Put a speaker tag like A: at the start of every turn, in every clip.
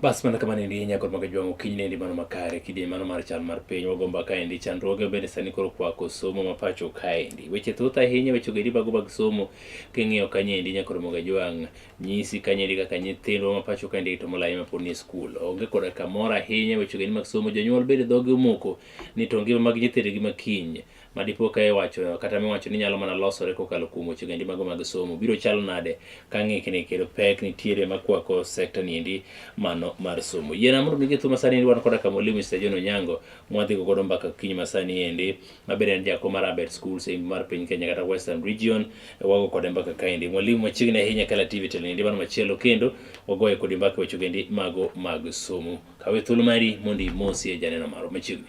A: bas mana kamano endi inya kod maga jwang'o kiny nendi mano makare kidie mano mar chal mar piny wagomba kaendi chandruoge bende sani koro kwako somo ma pacho kaendi weche thoth ahinya weche go edi bago bag somo king'iyo kanyo endi inya kod maga jwang' nyisi kanyeri kaka nyithindwa ma pacho kaendi to molayo ma pod ni e skul onge koda kamoro ahinya weche geni mag somo jonyuol bende dhogi omoko ni to ngima mag nyithindgi ma kiny ma dipo ka iwacho kata miwacho ni nyalo mana losore kokalo kuom weche gendi mago mag somo biro chalo nade ka ng'ikni kendo pek nitiere makwako sekta niendi mano mar somo yiena mondo migi thuma sani endi wan koda ka mwalimu Mr. John Onyango mwadhigo godo mbaka kiny masani endi ma bende en jakom mar Abed Schools e mar piny Kenya kata Western Region. Wago kode mbaka kaendi. Mwalimu machiegni ahinya kala TV telendi mano machielo kendo wagoye kodi mbaka weche gendi mago mag somo. Kawe thuolo mari mondo imosi e janeno maro machiegni.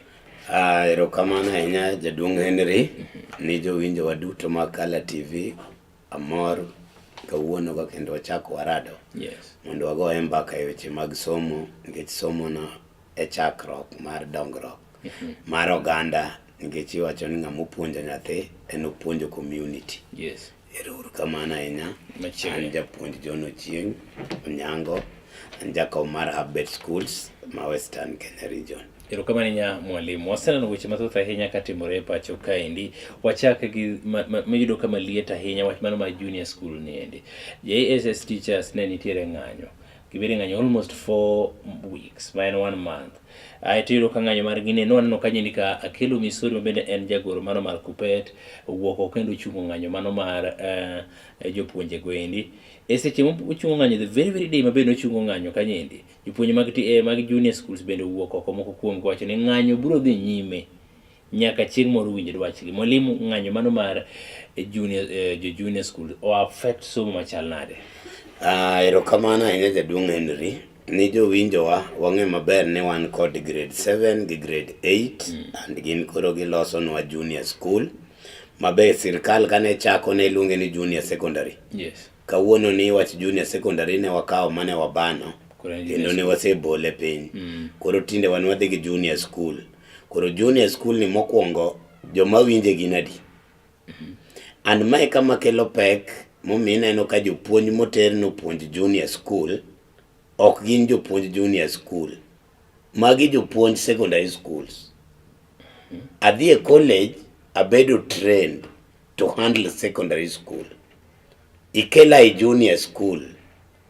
A: Ah, erokamano
B: ahinya jaduong' Henry ni jowinjowa duto mag Kala TV Amor kawuono ka kendo wachako warado yes. mondo wagoye
A: mbaka
B: e weche mag somo nikech somono e chakruok mar dongruok mm -hmm. mar oganda nikech iwacho ni ng'ama opuonjo nyathi en opuonjo community yes. erouru
A: kamano
B: ahinya an japuonj
A: John
B: Ochieng Onyango an jakom mar Habet Schools ma Western Kenya Region Erokamano nya
A: mwalimu. Waseneno weche mathoth ahinya katimore e pacho kaendi. Wachak gi miyudo kama liet ahinya wach mano ma junior school niendi. JSS teachers ne nitiere ng'anyo. Gibedi ng'anyo almost four weeks, ma en one month. Ae tiyudo ka ng'anyo mar gine nwaneno ka nyeni ka Akelo Misori mabende en jagoro mano mar Kupet owuok oko kendo ochungo ng'anyo mano mar uh, jopuonje goendi. E seche mochungo ng'anyo the very very day mabende ochungo ng'anyo kanyendi Jopuonj mag, eh, mag junior schools bende owuok oko moko kuom wacho ni ng'anyo biro dhi nyime nyaka chieng' moro winj dwachgi. Mwalimu, ng'anyo mano mar eh, junior, eh, jo junior school o affect somo machal nade? Ah, erokamano
B: ahinya jaduong' Henry. Ni jowinjowa wang'e maber ni wan kod grade 7 gi grade 8 mm. and gin koro gilosonwa junior school mabe sirkal kane chako ne iluonge ni junior secondary. Yes. Kawuono
A: ni wach
B: junior secondary ne wakawo mane wabano kendo ne wasebole piny. Mm. Koro tinde wan wadhi gi junior school. Koro junior school ni mokwongo joma winje gin adi? Mm-hmm. And mae kama kelo pek momiyo ineno ka jopuonj moter nopuonj junior school ok gin jopuonj junior school. Magi jopuonj secondary schools. Adhi e college abedo trained to handle secondary school. Ikela e junior school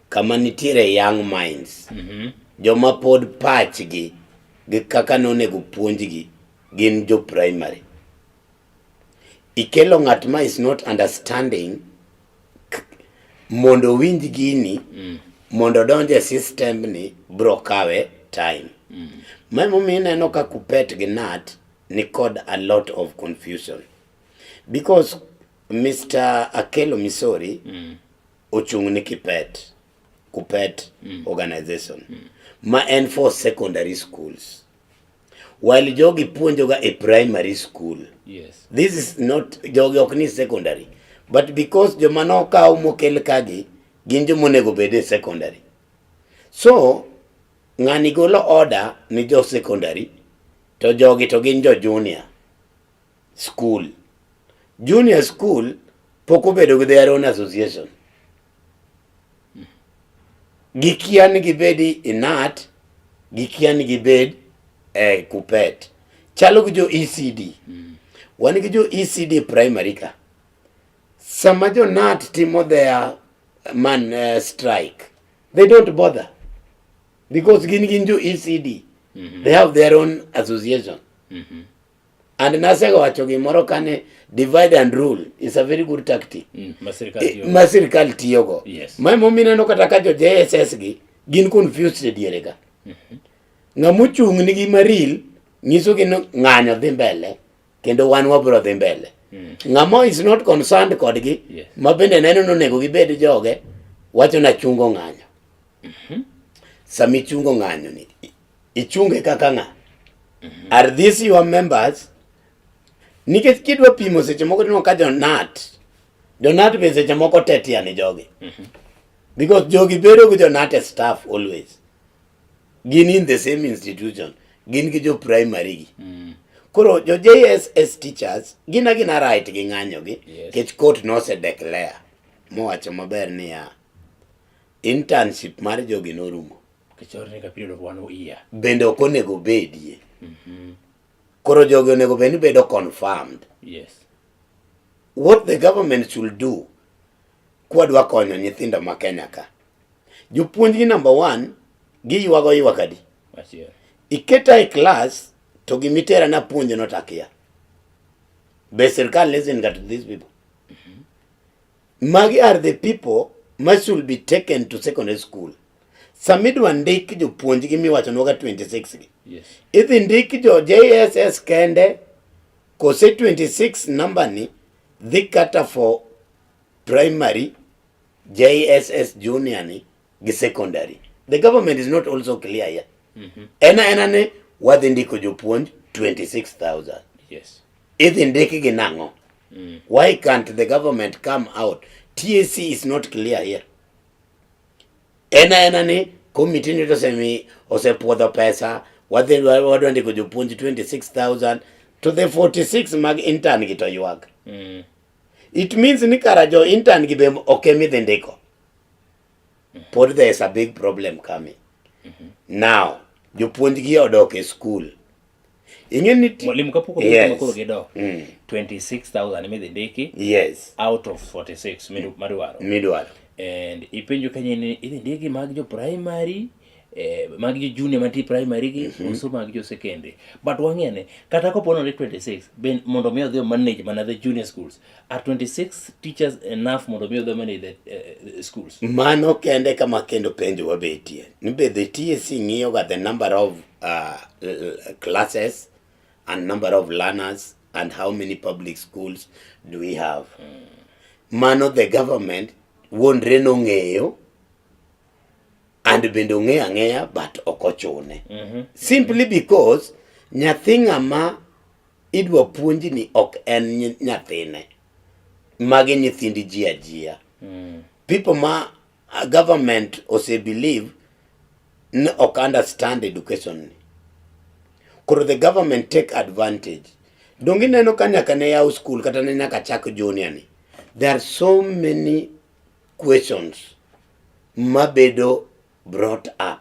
B: kama nitiere young minds. Mm -hmm. Joma pod pachgi gi kaka nonego puonjgi gin jo primary. Ikelo ng'at ma is not understanding mondo owinj gini mm. mondo odonj e system ni bro kawe time mm. ma emomiyo ineno ka kupet gi nat ni kod a lot of confusion because Mr. Akelo Misori mm. ochung' ni kipet kupet mm. organization mm. ma en for secondary schools While jogi puonjoga e primary school. Yes. This is
A: not
B: jogi ok ni secondary. But because joma nokaw mokel kagi gin joma onego bed e secondary. So ng'ani golo order ni jo secondary to jogi to gin jo junior school. Junior school pok obedo gi their own association. Gikia ni gibed inat, gikia ni gibed eh, kupet. Chalo gi jo ECD. Mm. Wan gi jo ECD primary ka. Sama jo NAT timo their man uh, strike, they don't bother because gin gin jo ECD. Mm -hmm. They have their own association. Mm -hmm. And nasega wacho gimoro kane divide and rule is a very good tactic. Mm, ma sirkal tiyogo. Yes. Ma mo mineno
A: kata ka
B: jo JSS gi gin confused e diere ga. Mm -hmm. Ng'amu chung' ni gi maril nyiso gi ng'anyo dhi mbele kendo wan wabro dhi mbele. Mm. Ng'amo is not concerned kodgi yes. ma bende neno ni onego gibed joge wacho na chungo ng'anyo. Mm -hmm. Sami chungo ng'anyo ni Ichunge kaka ng'a? Mm -hmm. Are these your members? Nikech kidwa pimo seche moko tineno ka jonat. Jonat be seche moko tetia ni jogi. Mm -hmm. Because jogi bedo gi jonat e staff always. Gin in the same institution. Gin gi jo primary gi. Mm -hmm. Koro jo JSS teachers gina gina right gi ng'anyo gi. Yes. Kech court no se declare. Mowacho maber niya. Internship mar jogi norumo.
A: bende ok onego
B: obedie mhm. koro jogi onego bed ni bedo confirmed yes. what the government should do kwadwa konyo nyithindo ma Kenya ka jopuonjgi number one giywago ywak adi
A: iketa e
B: class to gimitera na puonjo notakia be sirkal listen to these people Magi are the people ma should be taken to secondary school. Samidwa ndik jopuonjgi miwacho nwoga 26 gi. Yes. Idhi ndik
A: jo
B: JSS kende kose 26 number ni dhi kata for primary JSS junior ni gi secondary. The government is not also clear here. Mm -hmm. Ena ena ne wadhi ndiko jopuonj 26,000. Yes.
A: Idhi ndikgi
B: nang'o? Mm. Why can't the government come out? TSC is not clear here. Ena ena ni committee nito semi osepuodho pesa wadhi wadwa ndiko jopuonj 26000 to the 46 mag intern gi to ywak. Mm. It means ni kara jo intern gi be oke midhi ndiko. Mm-hmm. Pod there is a big problem coming. Mm -hmm. Now, jopuonj gi odok e school. inge ni mwalimu kapoko
A: yes. makoro gido mm. 26000 midhi ndiki yes out of 46 midu, madwaro midwaro
B: and ipenjo
A: kanye ni idhi ndiki mag jo primary eh, mag jo junior mantie primary gi mm -hmm. uso mag jo secondary but wang'ene kata kopo ni 26 ben mondo mi odhi manage mana the junior schools Are 26 teachers enough mondo mi odhomene the uh, schools? Mano kende kama
B: kendo penjo wabetie. Ni be the TSC ng'iyo ga the number of uh, classes and number of learners and how many public schools do we have? Mm. Mano the government wuondre nong'eyo and bende ong'eyo ang'eya but ok ochune. Mm -hmm. Simply because nyathi ng'ama idwa puonji ni ok en nyathine magi nyithindi ji ajia mm. people ma uh, government ose believe ni ok understand education ni koro the government take advantage donge ineno ka nyaka ne yaw school kata ne nyaka chak junior ni there are so many questions mabedo brought up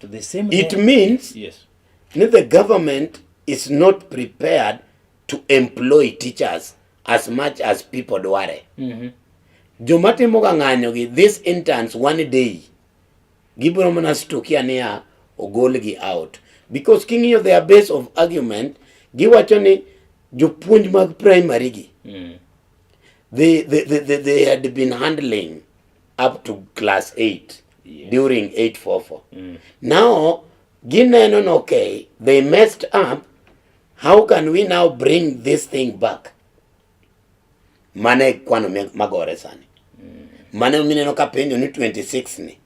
A: To the same it law. means
B: yes.
A: the government
B: is not prepared to employ teachers as much as people dware mm -hmm. joma timoga ng'anyogi this interns one day gibiro mana stukia niya ogolgi out because king'iyo their base of argument giwacho ni jopuonj mag primary gi mm. They, they, they, they, they had been handling up to class 8 yes. during 844. Mm. Now, Gineno, okay, they messed up. How can we now bring this thing back? Mane kwano magore sani. Mm. Mane mineno ka penjo ni 26 ni.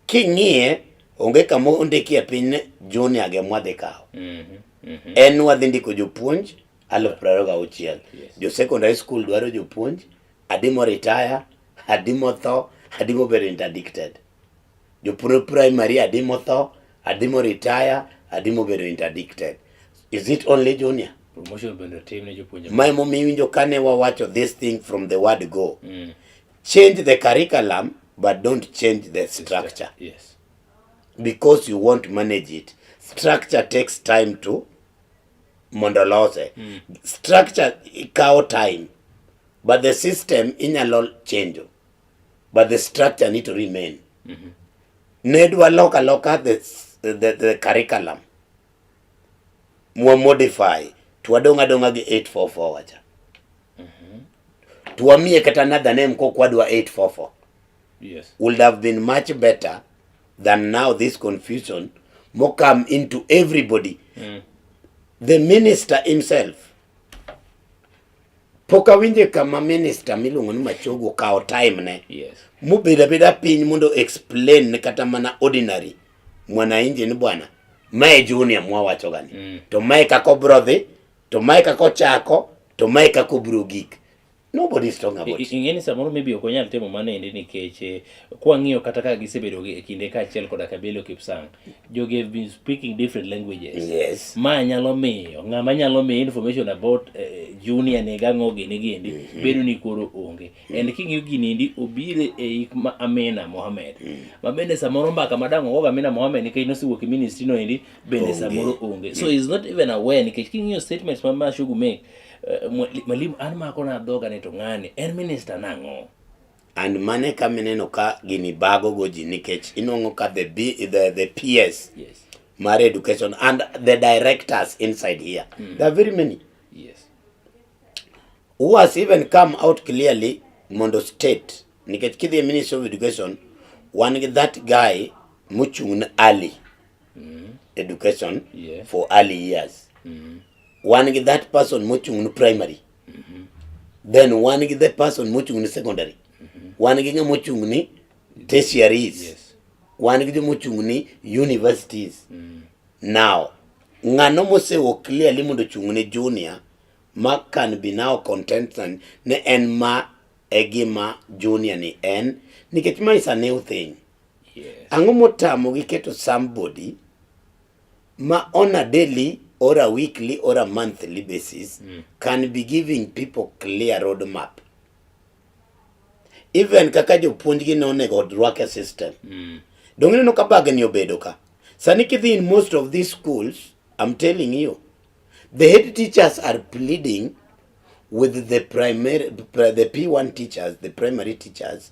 B: King'iye onge kama ondikie piny junior ge mwadhi kawo. Mm -hmm. Mm -hmm. En wadhi ndiko jopuonj. aluf piero ariyo gauchiel jo secondary school dwaro jopuonj adi moritaya adi motho adi mobedo interdicted jopuonj primary adi motho adi moritaya adi mobedo interdicted is it only junior promotion bende otim
A: ne jopuonjre ma emomiyo iwinjo kane
B: wawacho this thing from the word go mm. change the curriculum but don't change the structure yes. because you want to manage it structure takes time to mondo olose mm. structure kawo time but the system inyalo change but the structure need to remain mm -hmm. ne dwa loka loka the, the, the curriculum mwa modify twadong' adong'a gi 844 wacha mm -hmm. twamiye kata another name kokwadwa 844 yes.
A: would have been much
B: better than now this confusion mo come into everybody mm. the minister himself pok awinje kama minister miluongo ni Machogu okawo time ne yes. mubedo
A: abeda piny
B: mondo explain ne kata mana ordinary mwananchi ni bwana mae junior mwawacho gani mm. to mae kako brodhi to mae kako chako to mae kako brogik Nobody is talking about it. Ing'eni samoro maybe ok onyal
A: timo mano endi nikech eh, kwang'iyo kata ka gisebedo e kinde kaachiel koda Kabelo Kipsang, jogi have been speaking different languages. Yes. Ma nyalo
B: miyo
A: ng'ama nyalo miyo information about eh, junior ni gang'o gini giendi mm -hmm. bedo ni koro onge. Mm -hmm. And king'iyo gini endi obire e eh, ik ma Amina Mohamed. Mm -hmm. Ma bende samoro mbaka madang' ogogo Amina Mohamed nikech nosewuok e ministry no endi bende samoro onge. So mm -hmm. is not even aware nikech king'iyo statements ma Mashugu make Eh, mwalimu an mako na dhoga ni to ng'ani en minister nang'o and mane
B: ka mineno ka gini bago go ji nikech inong'o ka the, B, the, the PS yes. mar
A: education
B: and the directors inside here mm. there are very many yes. who has even come out clearly mondo state nikech kidhi e ministry of education wan gi that guy mochung' ne Ali mm. education yeah. for early years mm. wan gi that person mochung' ni primary mm -hmm. then wan gi the person mochung' ni secondary mm -hmm. wan gi ng'ama ochung' ni tertiaries yes.
A: wan gi joma ochung'
B: ni universities mm. now ng'ano mosewo clearly mondo ochung' ne junior ma can be now contentant ne en ma e gima junior ni en nikech ma is a new thing Yes. Ang'o
A: motamo
B: gi keto somebody ma on a daily or a weekly or a monthly basis mm. can be giving people clear road map even kaka jopuonjgi ne onego odwake system mm. dong ineno ka bagni obedo ka sani kidhi in most of these schools i'm telling you the head teachers are pleading with the primary the p1 teachers the primary teachers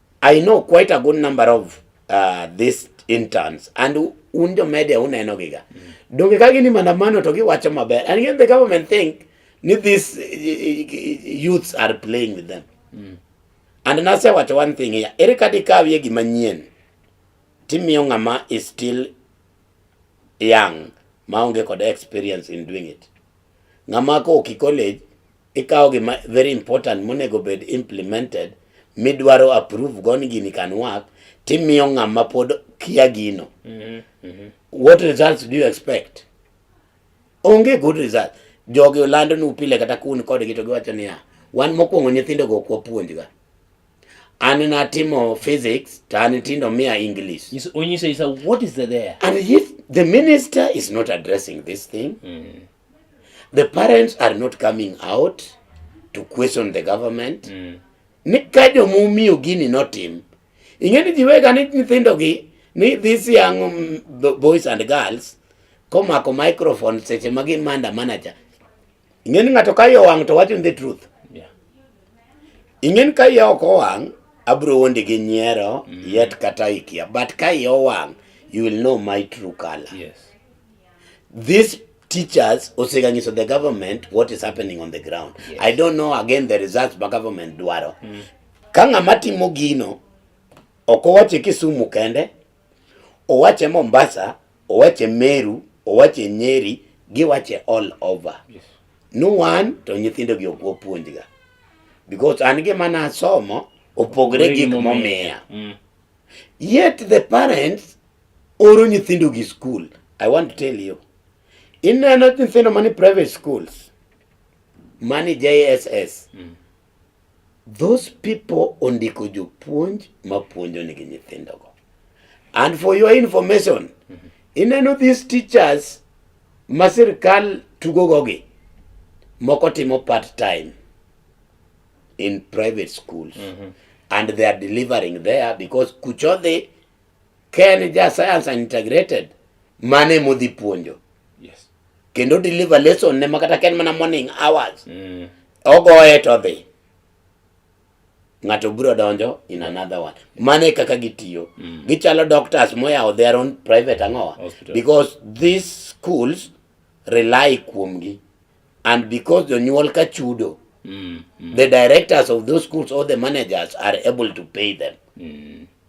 B: I know quite a good number of uh, these interns and un jo media uneno giga mm. donge ka gini maandamano to giwacho maber and yet the government think ni these eh, eh, eh, youths are playing with them mm. and nasewacho one thing here ere kata ikawie gima nyien timiyo ng'ama is still young maonge kod experience in doing it ng'ama ko oki college ikawo gima very important monego bed implemented midwaro approve go ni gini can work timiyo ng'ama pod kia gino mm -hmm. what results do you expect onge good result jogi olando ni upile kata kun kodgi to giwacho niya wan mokwongo nyithindo go kwa puonjga an natimo physics to an tindo miya english yes, when you say, so
A: what is the there and if the
B: minister is not addressing this thing mm -hmm. The parents are not coming out to question the government. Mm. Ni ka joma omiyo gini notim. Ing'e ni jiwega ni nyithindogi ni this young um, boys and girls komako microphone seche ma gin manda manager. Ing'e ni ng'ato ka yo wang' to wacho the truth. Yeah. Ing'e ni ka yo ok owang' abro wondi gi nyiero mm. yet kata ikia but ka yo wang' you will know my true color. Yes. These teachers oseganyiso the government what is happening on the ground. Yes. I don't know again
A: the
B: results ba government dwaro. Mm. Ka ng'ama timo gino ok owache Kisumu kende, owache Mombasa, owache Meru, owache Nyeri, giwache all over. Yes. No
A: one
B: to nyithindo gi ok opuonjga. Because an gima nasomo opogre gik momiya. Mm. Yet the parents oro nyithindo gi school i want to tell you ineno nyithindo mani private schools mani jss mm. those people ondiko jopuonj mapuonjo nigi nyithindogo and for your information mm -hmm. ineno these teachers ma sirkal tugogogi moko timo part time in private schools mm -hmm. and they are delivering there because kuchodhi Ka en ja science and integrated, mano ema odhi puonjo. Yes.
A: Kendo deliver
B: lesson ne makata ka en mana morning hours. Mm. Ogoye to odhi. Ng'ato biro donjo in another one. Mano e kaka gitiyo. Mm. Gichalo doctors moyawo their own private ang'owa. Hospital. Because
A: these
B: schools rely kuomgi. And because jonyuol ka chudo, Mm. Mm. the directors of those schools or the managers are able to pay them. Mm.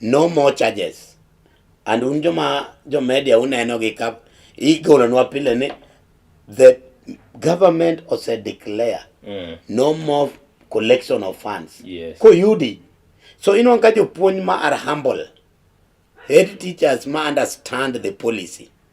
B: No more charges. And un joma jo media uneno gi ka igolonwa pile ni the government ose declare mm. no more collection of funds yes. koyudi so inwan ka jopuonj ma are humble head teachers ma understand the policy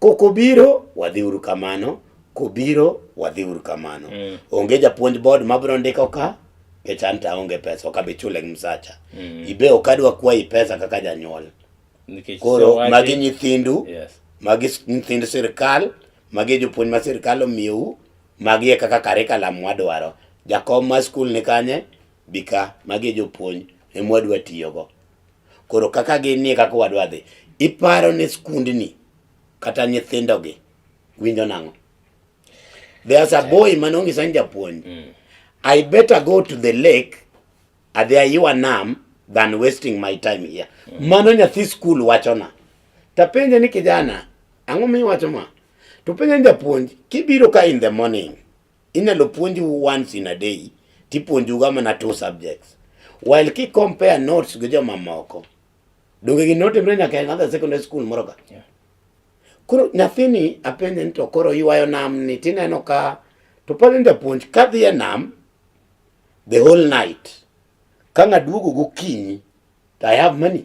B: Kokobiro wadhiuru kamano, kobiro wadhiuru kamano. Mm. Onge japuonj board mabiro ndiko ka kech an to aonge pesa ok abi chule gi msacha. Mm. Ibe ok adwa kwayi pesa kaka janyuol. Nikech Koro sewagi- magi nyithindu, Yes. magi s-
A: nyithind
B: sirkal, magi jopuonj ma sirkal omiyou, magi e kaka curriculum wadwaro. Jakom ma skul ni kanye, bika, magi e jopuonj emwadwa tiyogo. Koro kaka ginie kaka wadwa dhi, iparo ni skundni kata nyithindogi winjo nang'o? There's a boy mane ong'isa ni japuonj, mm. I better go to the lake adhi aywa nam than wasting my time here. Mm. Mano nyathi skul wachona. Tapenje ni kijana, ang'o miwacho ma? To penje ni japuonj, kibiro ka in the morning, Inyalo puonju once in a day tipuonjuga mana two subjects. While ki compare notes gi jomamoko, donge gini notimre nyaka e another secondary school moro ka. Yeah.
A: Koro
B: nyathini apenje ni to koro ywayo nam ni tineno ka to pod en japuonj kadhi e nam the whole night ka ng'aduogo gokinyi to I have money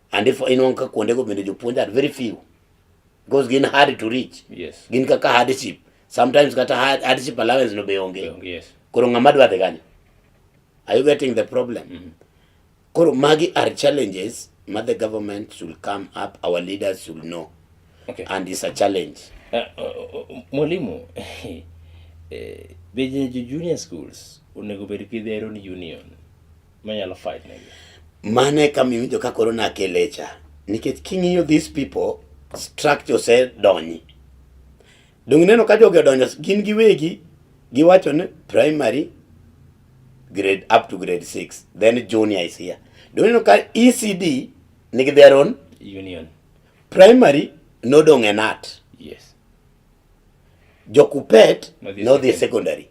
B: and if inwang' ka kuondego bende jopuonj are very few because gin hard to reach yes. gin kaka
A: hardship
B: sometimes kata hardship allowance no be onge yes. koro ng'ama dwa
A: dhi kanyo
B: are you getting the problem mm -hmm. koro magi are challenges ma the government should come up our leaders should know okay. and it's
A: a challenge
B: uh, uh, uh,
A: mwalimu eh, be junior schools onego bed gi their own union
B: manyalo
A: fight negi
B: mano e
A: kama iwinjo
B: ka
A: koro
B: nakelecha nikech king'iyo these people structure osedonyi donge ineno ka jogi odonjo gin giwegi giwacho ni primary grade up to grade 6 then junior is here donge ineno ka ECD nigi their own union
A: primary
B: nodong' e nat yes
A: jokupet
B: Nodhi nodhi e secondary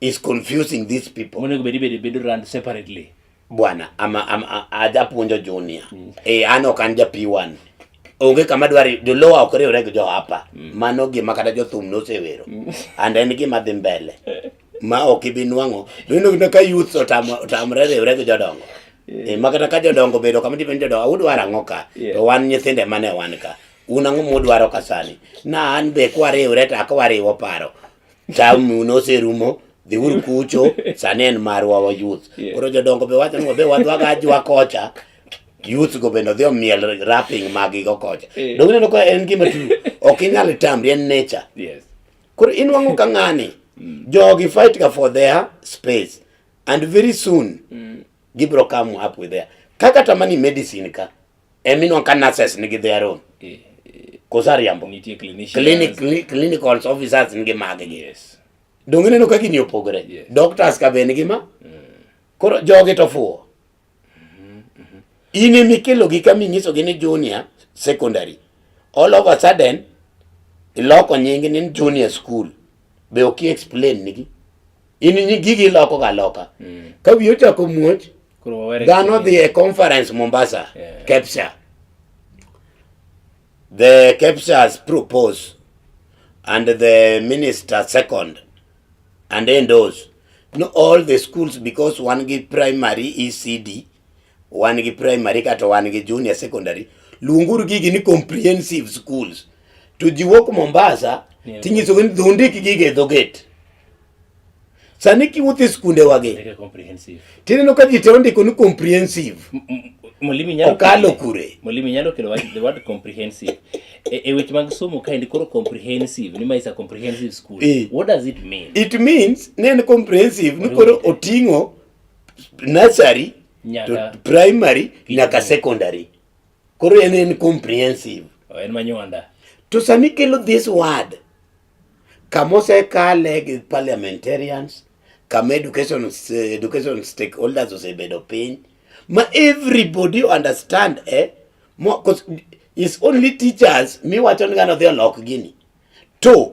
B: is confusing these people. Monego bedi bedi bedo run
A: separately. Bwana ama,
B: ama ajapuonjo junior. Mm. Eh, an ok an ja P1. Onge kama dwari jolowa ok riwre gi jo hapa. Mm. Mano gima kata jo thum nosewero. Mm. And en gima dhi mbele. Ma ok ibi nwang'o. Nino gina ka youth otamo otamre riwre gi jodongo. Yeah. E, eh, makata ka jodongo bedo kama tipen jodongo awudwar ang'o ka yeah. to wan nyithinde mane wan ka un ang'o mudwaro ka sani na an be kwariwre to akwariwo paro Tamu noserumo dhiuru kucho sani en marwa wa youth Yeah. koro jodongo be wacho ni wabe wadwaga ajwa kocha youth go bende odhi omiel rapping magigo kocha Yeah. donge neno ka en gima tu ok inyal tamri en nature Yes. koro
A: inwang'o
B: ka ng'ani jogi fight ga for their space and very soon gibro come up with their kaka tamani medicine ka Eminon ka nurses nigi their own. Eh, eh, Kosa riambo. Nitie clinicians. Clinic, cli- clinical officers nigi magi gi. Yes.
A: Donge ineno ka gini
B: opogore. Yes. Doctors ka be
A: nigi ma.
B: Koro jogi to fuwo. In ema ikelogi ka minyisogi ni junior secondary. All of a sudden, iloko nyingi ni junior school. Be ok i explain nigi. in nyi gigi iloko ga loka mm. ka wiyo chako muoch dhano dhi e conference Mombasa yeah. Kepsa the Kepsa's propose and the minister second and endorse no all the schools because one give primary ECD wan gi primary kata wan gi junior secondary luonguru gigi ni comprehensive schools to ji wuok Mombasa yeah. tinyisogi ni dhondik gigi e dhogate sani kiwuotho e skunde wagi tineno
A: ka ji te
B: ondiko ni comprehensive Molimi
A: nyalo okalo kure. Molimi
B: nyalo kelo wach the
A: word comprehensive. e, e weche mag somo kaendi koro comprehensive ni ma is a comprehensive school. E. What does it mean? It means ne
B: en comprehensive ni koro oting'o nursery nyaka to primary nyaka secondary koro en en comprehensive oh, en manywanda
A: to sami kelo
B: this word kama osekale gi parliamentarians kama education education stakeholders osebedo piny ma everybody understand eh mo is only teachers miwacho ni ngano dhi olok gini to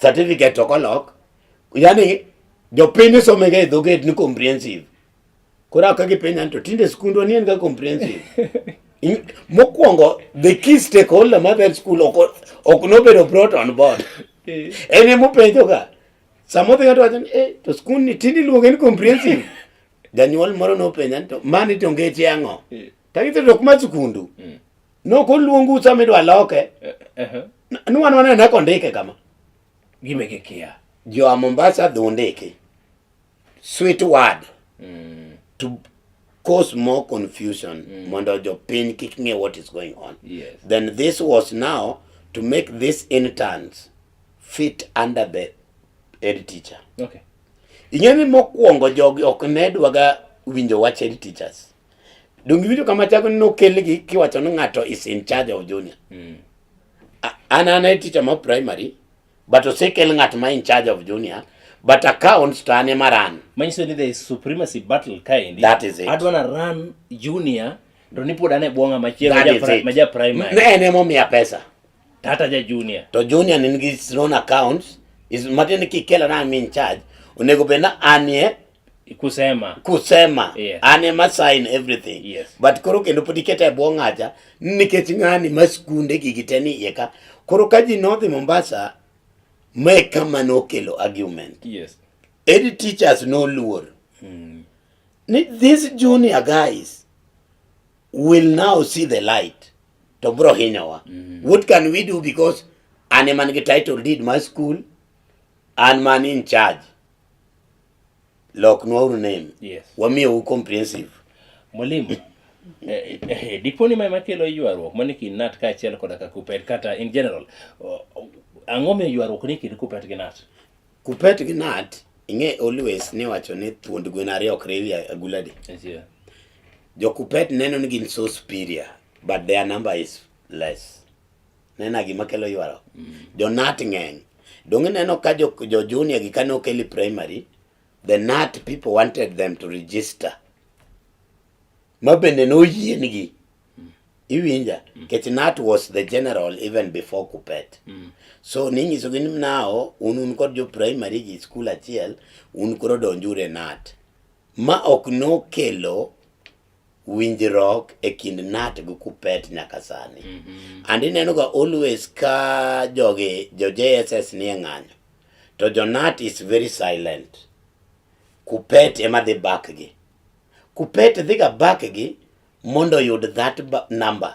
A: certificate to
B: kolok yani jopiny isomega e dhoget ni comprehensive koro aka gipenya to tinde skundwa ni en ga comprehensive mokwongo the key stakeholder ma that school ok nobedo brought on board eh. en emopenjoga samodhi ng'ato wacho ni eh, to skund ni tinde iluonge ni comprehensive janyuol moro nopenja ni to mani to ngeche ang'o eh. tagitho to ok ma skundu mm. Nok oluong usa midwa loke. Eh, eh, eh. Nwan wane ne kondike kama. Gime gi
A: kia. Jo Mombasa
B: dhu ndiki. Sweet word. Mm. To cause more confusion mm. mondo jo piny kik ng'e what is going on. Yes. Then this
A: was
B: now to make these interns fit under the head teacher. Okay.
A: Ing'e ni
B: mokwongo jogi ok ne dwaga winjo wach head teachers. Donge winjo kama chako ni nokelgi kiwacho ni ng'ato is in charge of junior. Mm. An an a teacher ma primary but osekel ng'at ma in charge of junior but accounts to an ema run. Manyiso ni there is
A: supremacy battle kaendi. That is it. Adwa na
B: run
A: junior to ni pod an e bwo ng'ama chielo ma ja primary. Ne en emomiya pesa.
B: Tata ja
A: junior. To junior nigi his
B: own accounts is matiende kikela na I'm in charge onego bed na anie kusema kusema yes. an am
A: a sign
B: everything yes. but koro kendo
A: pod iketa
B: e bwo ng'acha nikech ng'ani ma skunde gigi te ni iye ka koro ka ji nodhi Mombasa mae kama nokelo argument yes. edi
A: teachers
B: noluor mm. ni these junior guys will now see the light to bro hinyowa mm. what can we do because an man gi title deed my school an man in charge Lok nwa uru name. Yes. Wamiye u
A: comprehensive.
B: Mwalimu.
A: Eh, eh, eh, diponi ma makelo ywaruok mani kind nat ka achiel koda ka kupet kata in general ang'o miyo ywaruok ni kind kupet gi nat kupet gi
B: nat ing'e always ni wacho ni thuond gwen ariyo ok riwi aguladi yeah.
A: jo
B: kupet neno ni gin so superior but their number is less nena gima kelo ywaruok jonat ng'eny dong ineno ka jo, jo junior gi kane okeli primary the nat people wanted them to register ma bende noyiengi iwinja kech nat was the general even before kupet so ninyisogi ni nao un un kod jo primary gi skul achiel un koro donjure nat ma ok nokelo winjruok e kind nat gi kupet nyaka sani mm -hmm. and ineno ga always ka jogi jo jss nie ng'anyo to jo nat is very silent kupet ema dhi bak gi kupet dhiga bak gi mondo oyud that number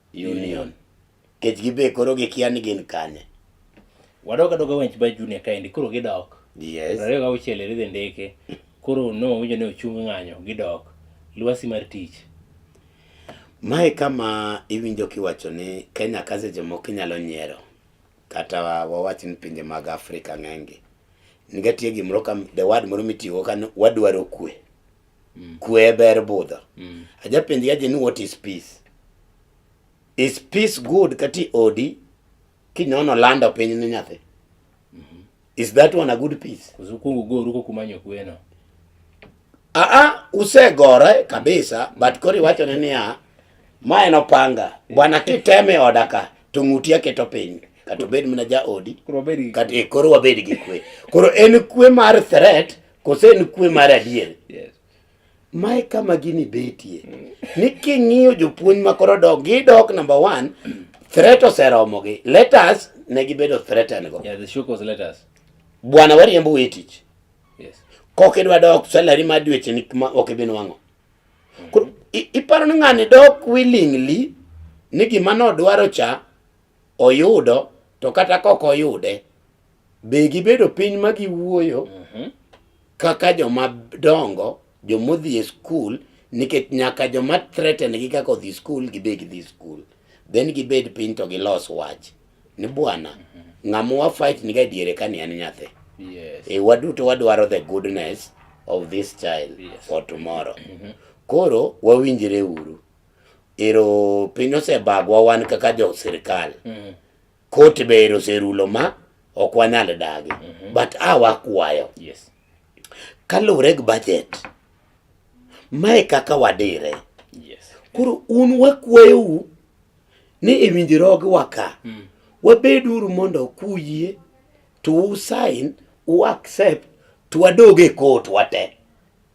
B: Union. Kech gibe koro gikia ni gin kanye. Wadok
A: adoka wench by Junior kaendi koro gidok. Yes. Ariyo ga
B: uchiel eridhe
A: ndeke. Koro no winjo ni ochung ng'anyo gidok. Lwasi mar tich.
B: Mae kama iwinjo kiwacho ni Kenya ka seche moko inyalo nyiero kata wawach ni pinje mag Afrika ng'enygi. Nigatie gimoro kam the word moro mitiyogo ka wadwaro kwe. mm. kwe ber budho mm. ajapenji aje ni what is peace is peace good kati odi kinyono lando piny ni nyathi mm -hmm. is that one a good peace kuzukungu go ruko kumanyo
A: kweno a ah, a ah,
B: usegore kabisa but kori wacho ni ya ma en opanga bwana kiteme odaka tung'uti aketo piny kata obed mana ja odi koro wabed gi kwe koro en kwe mar threat Kose en kwe mar adier? Yes.
A: Mae
B: kama gini betie. Ni king'iyo jopuonj ma koro dok, gidok number one, threat oseromogi. Let us ne gibedo threatened go. Yeah, the show was let
A: us. Bwana wariembo
B: we tich. Yes.
A: Kok idwa dok
B: salary ma dweche ni ma ok ibi nwang'o. Koro i- iparo ni ng'ani dok willingly ni gima nodwaro cha oyudo to kata kok oyude Be gibedo piny ma giwuoyo mhm. kaka joma dongo, joma odhi e skul, nikech nyaka joma threaten gi kaka odhi skul gibe gidhi skul. Then gibed piny to gilos wach ni bwana, mhm. ng'ama wa fight ni ga diere ka ni en nyathi. Yes. E waduto
A: wadwaro the
B: goodness of this child yes. for tomorrow. Mm -hmm. Koro wawinjire uru. Ero piny osebagwa wan kaka jo sirkal. Mm -hmm. Kot ber oserulo ma ok wanyal dagi. Mm -hmm. But a wakwayo. Yes.
A: Kaluwre
B: gi budget. Mae kaka wadire. Yes.
A: Koro un
B: wakwayou ni e winjruogwa ka. Mm. Wabeduru mondo kuyie to usain u accept to wadoge kot wate.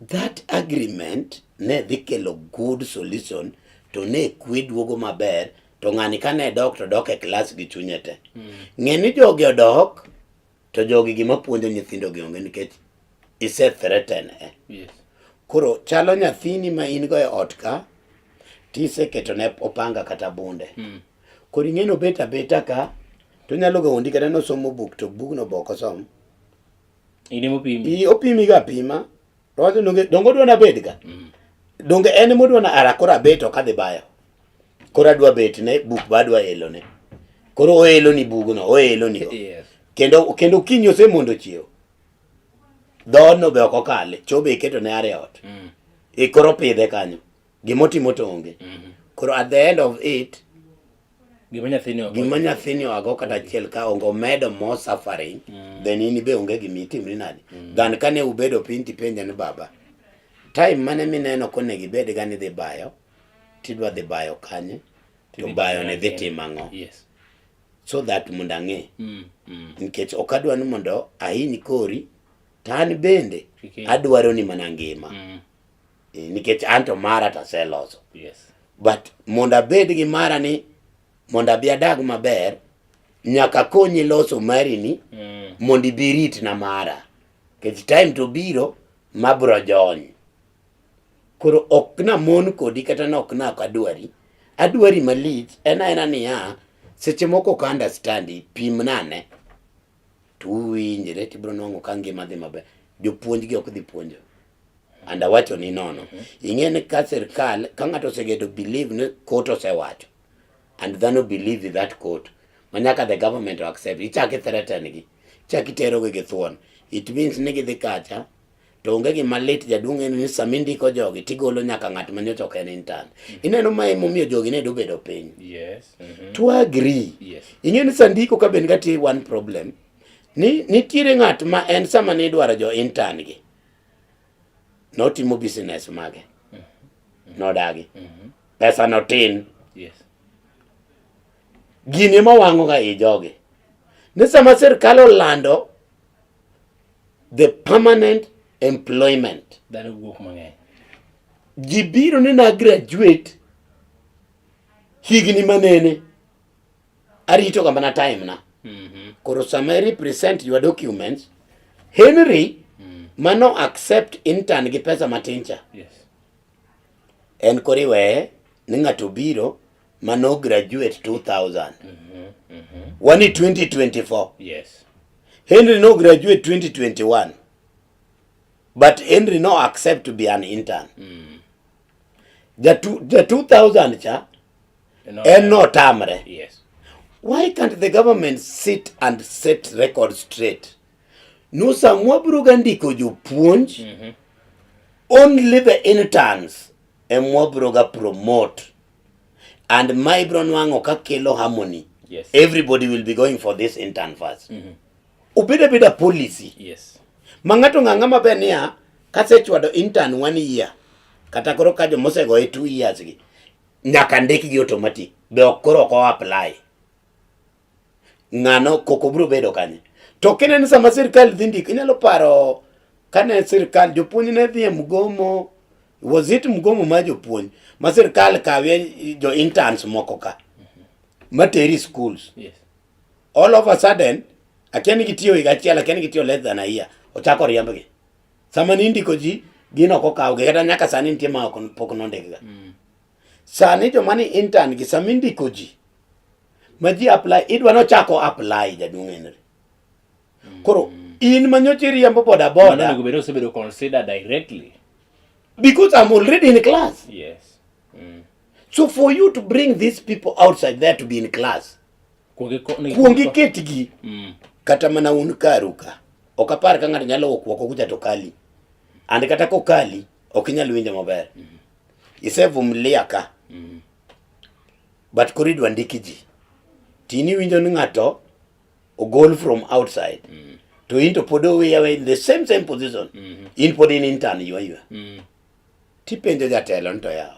B: That agreement
A: ne dhi
B: kelo good solution to ne kwe duogo maber to ng'ani ka ne dok to dok e klas gi chunye te. Mm. Ng'e ni jogi odok to jogi gima puonjo nyithindo gi onge nikech ise threaten e. Yes.
A: Koro chalo
B: nyathini ma in go e ot ka tise keto ne opanga kata bunde. Mm. Koro ing'e no beta beta ka to nyalo ga ondi kata no somo buk to bugno boko somo.
A: Ine mopimi. I opimi ga pima.
B: To wacho donge dongo dwa nabed ga. Mm. Donge en modwa na ara kora bet ok adhi bayo. Kora dwa bet ne buk ba dwa elo ne. Koro oelo ni bugno, oelo ni. Yes. Kendo
A: kendo kinyo
B: se mondo chiew. Dhono be ok okale, chobe iketo ne are ot. Mm. Ikoro pidhe kanyo. gimotimo to onge mhm. koro at the end of it
A: gima nyathini
B: oago kata achiel ka onge omedo more suffering mm. then in be onge gima itimri nadi mm. than kane ubedo piny tipenja ni baba time mane mineno kone gibed ga ni dhi bayo tidwa dhi bayo kanye to bayo ne dhi timo ang'o yes.
A: so that
B: mondo ang'e mm. mm. nikech ok adwa ni mondo ahiny kori to an bende adwaro ni mana ngima mm. eh, nikech anto mara taseloso yes. but
A: mondo
B: abed gi mara ni mondo abi adag maber nyaka konyi loso mari ni mm. mondo ibi rit na mara nikech time to biro mabro jony koro ok na mon kodi kata na ok na adwari adwari malich en aena niya seche moko ka understand pim nane to uwinjre to ibiro nwang'o ka ngima dhi maber. Jopuonjgi ok dhi puonjo. And awacho ni nono. Mm-hmm. Ing'e ni ka sirkal, ka ng'ato osegedo believe ni court osewacho, and dhano believe that court, manyaka the government accept, ichaki threaten gi, ichaki terogi gi thuon. It means ni gidhi kacha, to onge gima lit jaduong' en ni sama indiko jogi tigolo nyaka ng'at ma nyocha ok en intern mm-hmm. ineno ma emomiyo jogi ne dobedo piny yes. mm-hmm. to
A: agree
B: yes. ing'e ni
A: sandiko ka
B: ben gatie one problem ni nitiere ng'at ma en sama ni idwaro jo intern gi notimo business mage mm-hmm. nodagi mm-hmm. pesa no tin yes. gini ema wang'oga i jogi ni sama sirkal olando the permanent employment dhano wuok mang'eny
A: ji
B: biro ni na graduate higni manene arito ga mana time na mm -hmm. koro sama i represent your documents henry mm. mano accept intern gi pesa matin cha yes. en koriweye ni ng'ato biro mano graduate 2000 mm -hmm. mm -hmm. wani 2024 yes
A: Henry no
B: graduate 2021 but Henry no accept to be an intern mm. the, two, the 2000 cha no, en no tamre yes
A: why can't
B: the government sit and set record straight no samwa bruga ndiko jopuonj mm -hmm. only the interns emwa broga promote and ma ibro nwang'o ka kelo harmony yes. everybody
A: will be going
B: for this intern first mm -hmm. obed abeda policy yes. ma
A: ng'ato ng'ang'a
B: maber niya kasechwado intern one year kata koro ka jomosego e two years gi nyaka ndikgi automatic be ok koro ok o apply ng'ano koko biro bedo kanye to kineno sama sirkal dhi ndiko inyalo paro kane sirkal jopuonj ne dhi e mgomo was it mgomo ma jopuonj ma sirkal kawe jo interns moko ka materi schools yes.
A: all of a
B: sudden akia ni gitiyo higa achiel akia ni gitiyo less than a year ochako riembgi sama ni indiko ji gin ok okawgi kata nyaka sani nitie ma pok nondikga mm. Sani joma ni intern gi sama indiko ji ma ji apply idwa nochako apply jaduong' Henry. Koro in manyocha iriembo boda Mano boda onego bed osebedo considered
A: directly. because
B: I'm already in class. Yes. Mm.
A: So
B: for you to bring these people outside there to be in class, Kuongi ko- ni- kuongi ketgi Mm. kata mana un karu ka. Ok apar ka ng'ato nyalo wuok oko kucha to kali. And kata kokali, ok inyal winjo maber. isevumilia ka mm. but koro idwa ndiki ji tini winjo ni ng'ato ogol from outside mm. to into pod oweya in the same same position mm -hmm. in pod in intern ywa ywa mm. tipenjo jatelo nito yawo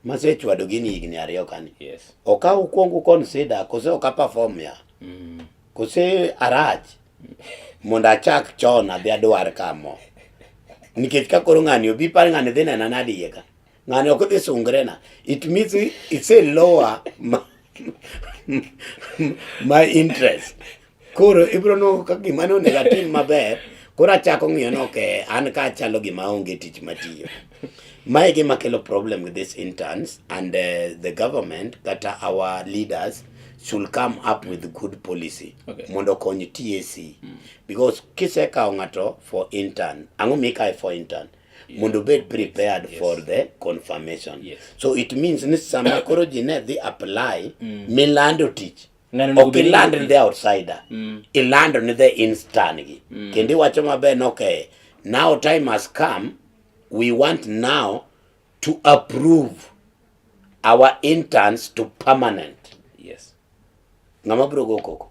B: masechwado gini higni ariyo kani yes. okaw
A: kwongu
B: consider kose okaperform ya mm. Kose arach mondo achak chon adhi adwar ka mo. Nikech ka koro ng'ani obi par ng'ani dhi nena nade iye ka. Ng'ani ok dhi sungre na. It means it's a lower ma, my interest. Koro ibro no ka gima no negative maber. Koro achako ng'iyo no ke an ka achalo gima onge tich matiyo. Mae gima kelo problem with these interns and uh, the government kata our leaders should come up with good policy okay. mondo okony TAC mm. because kisekawo ng'ato for intern ang'o mikae for intern yeah. mondo obed prepared yes. for the confirmation yes. so it means ni sama koro ji ne dhi apply mm. milando tich ok iland ni the outsider mm. ilando ni the intern gi mm. kendo iwacho maber ni okay now time has come We want now to approve our interns to permanent. Yes.
A: Ng'ama
B: biro go koko.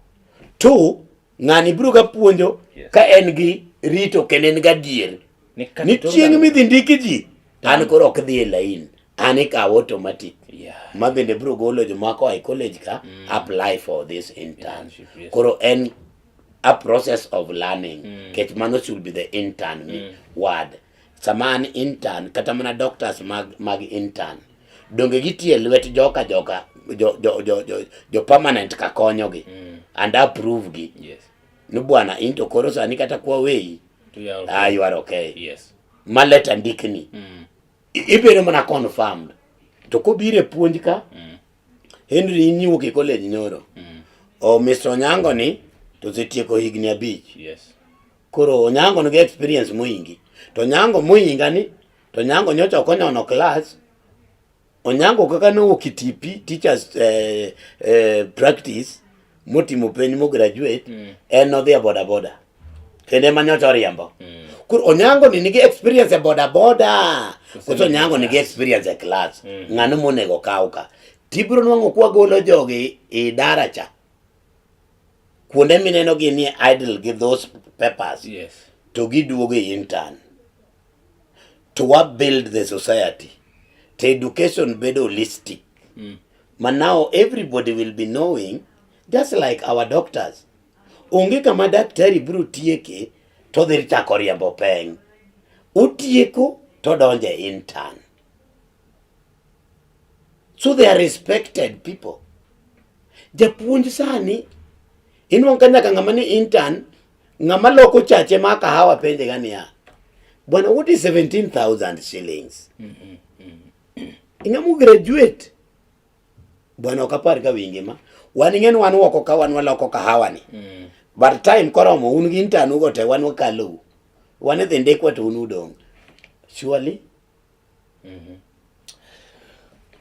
B: Two, ng'ani biro ga puonjo yes. ka en gi rito kendo en ga dier. Ni chieng' midhi ndiki ji, an koro ok dhi e lain, an ikawo automatic. Yeah. Ma bende biro golo jomako e college ka mm. apply for this internship. Yes. Koro en a process of learning mm. ket mano should be the intern me mm. word sama an intern kata mana doctors mag, mag intern donge gitie lwet joka joka jo, jo, jo, jo, jo permanent ka konyogi mm. and approve gi yes. ni bwana into koro sani kata kwa weyi yeah, okay. ah, you are okay yes. ma
A: leta ndikni
B: mm. ibiro mana confirmed to kobire puonj ka mm. Henry inyiwuok e college nyoro. Mm. O Mr. Onyango ni to osetieko higni abich. Yes.
A: Koro Onyango
B: nigi experience moingi. To Onyango moinga ni to Onyango nyocha ok onyono class. Onyango kaka ne owuok Kitipi teachers eh, eh, practice motimo penj mo graduate mm. en odhi e boda boda kendo ema nyocha oriembo mm. koro onyango ni nigi experience e boda boda koso onyango nigi experience e class mm. ng'ano monego kaw ka tibiro nwang'o kwa golo jogi i dara cha kuonde mineno gi ni idle gi those papers yes. to
A: giduogo
B: e intern to wa build the society to education bedo holistic mm. ma now everybody will be knowing just like our doctors onge kama daktari biro tieke to dhi chako riembo peng utieko to donje intern so they are respected people japuonj sani inwang' ka nyaka ng'ama ni intern Ng'ama loko chache ma kahawa penje ga niya, bwana what is 17,000 shillings? Mm -hmm. Ing'ama graduate bwana ok apar ka wingi ma wan ing'eni wan woko ka wan waloko kahawa ni mm. but time koromo un gi intanu go te wan wakalou wan idhi ndikwa to un udong' surely Mhm.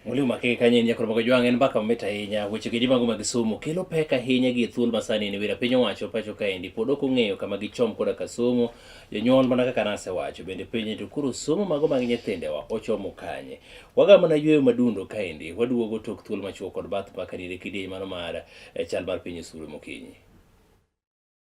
A: Mwalimu Makeke Kanye Nyakoro Mogo Jwang' en mbaka mamit ahinya. Weche gi jimago mag somo kelo pek ahinya gi thuol ma sani ni wira piny owacho pacho kaendi pod ok ong'eyo kama gichom koda ka somo jonyuol mana kaka nasewacho bende penye to koro somo mago mag nyithindewa ochomo kanye waga mana yweyo madundo kaendi waduogo tok thuol machuo kod bath mbaka nire kidieny mano mar eh, chal mar piny osuru mokinyi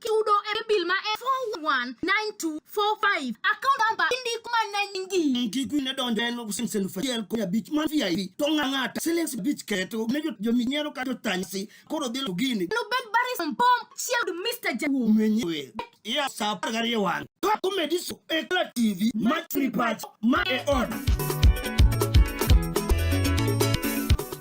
C: kiudo e bil ma e 419245 account number indik mana nyingi ntiku ne donjo en
D: siling elfu achiel kod abich man vip to ng'a ng'ata siling abich keto ne jominyiero ka jotanysi koro dhi gini nubed baris mbom
C: chiel Mr. Jawu menyewe ya
D: sapar gariyo wang' Kako mediso ekla TV matri pacho
E: ma e on.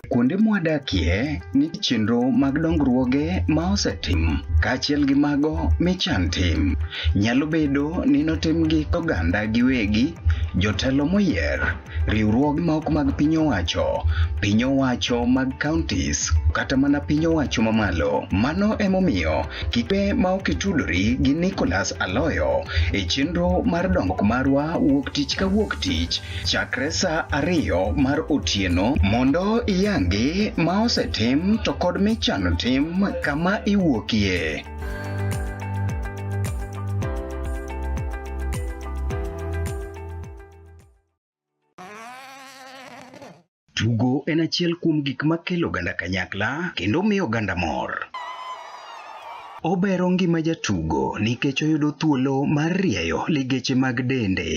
E: Kuonde mwadakie ni chenro mag dongruoge ma osetim kaachiel gi mago michan tim. Nyalo bedo ni notimgi oganda giwegi, jotelo moyier, riwruoge ma ok mag piny owacho, piny owacho mag counties, kata mana piny owacho mamalo. Mano emomiyo kipe ma ok itudori gi Nicholas Aloyo e chenro mar dongruok marwa wuok tich ka wuok tich chakre sa ariyo mar otieno mondo iyangi ma osetim to kod michano tim kama iwuokie. Tugo en achiel kuom gik ma kelo oganda kanyakla kendo miyo oganda mor. Obero ngima jatugo nikech oyudo thuolo mar rieyo ligeche mag dende.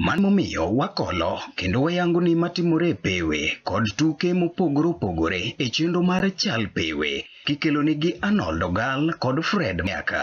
E: Mano momiyo wakolo kendo wayango ni matimore e pewe kod tuke mopogore opogore e chenro mar Chal Pewe kikelo nigi Arnold Ogal kod Fred Miaka.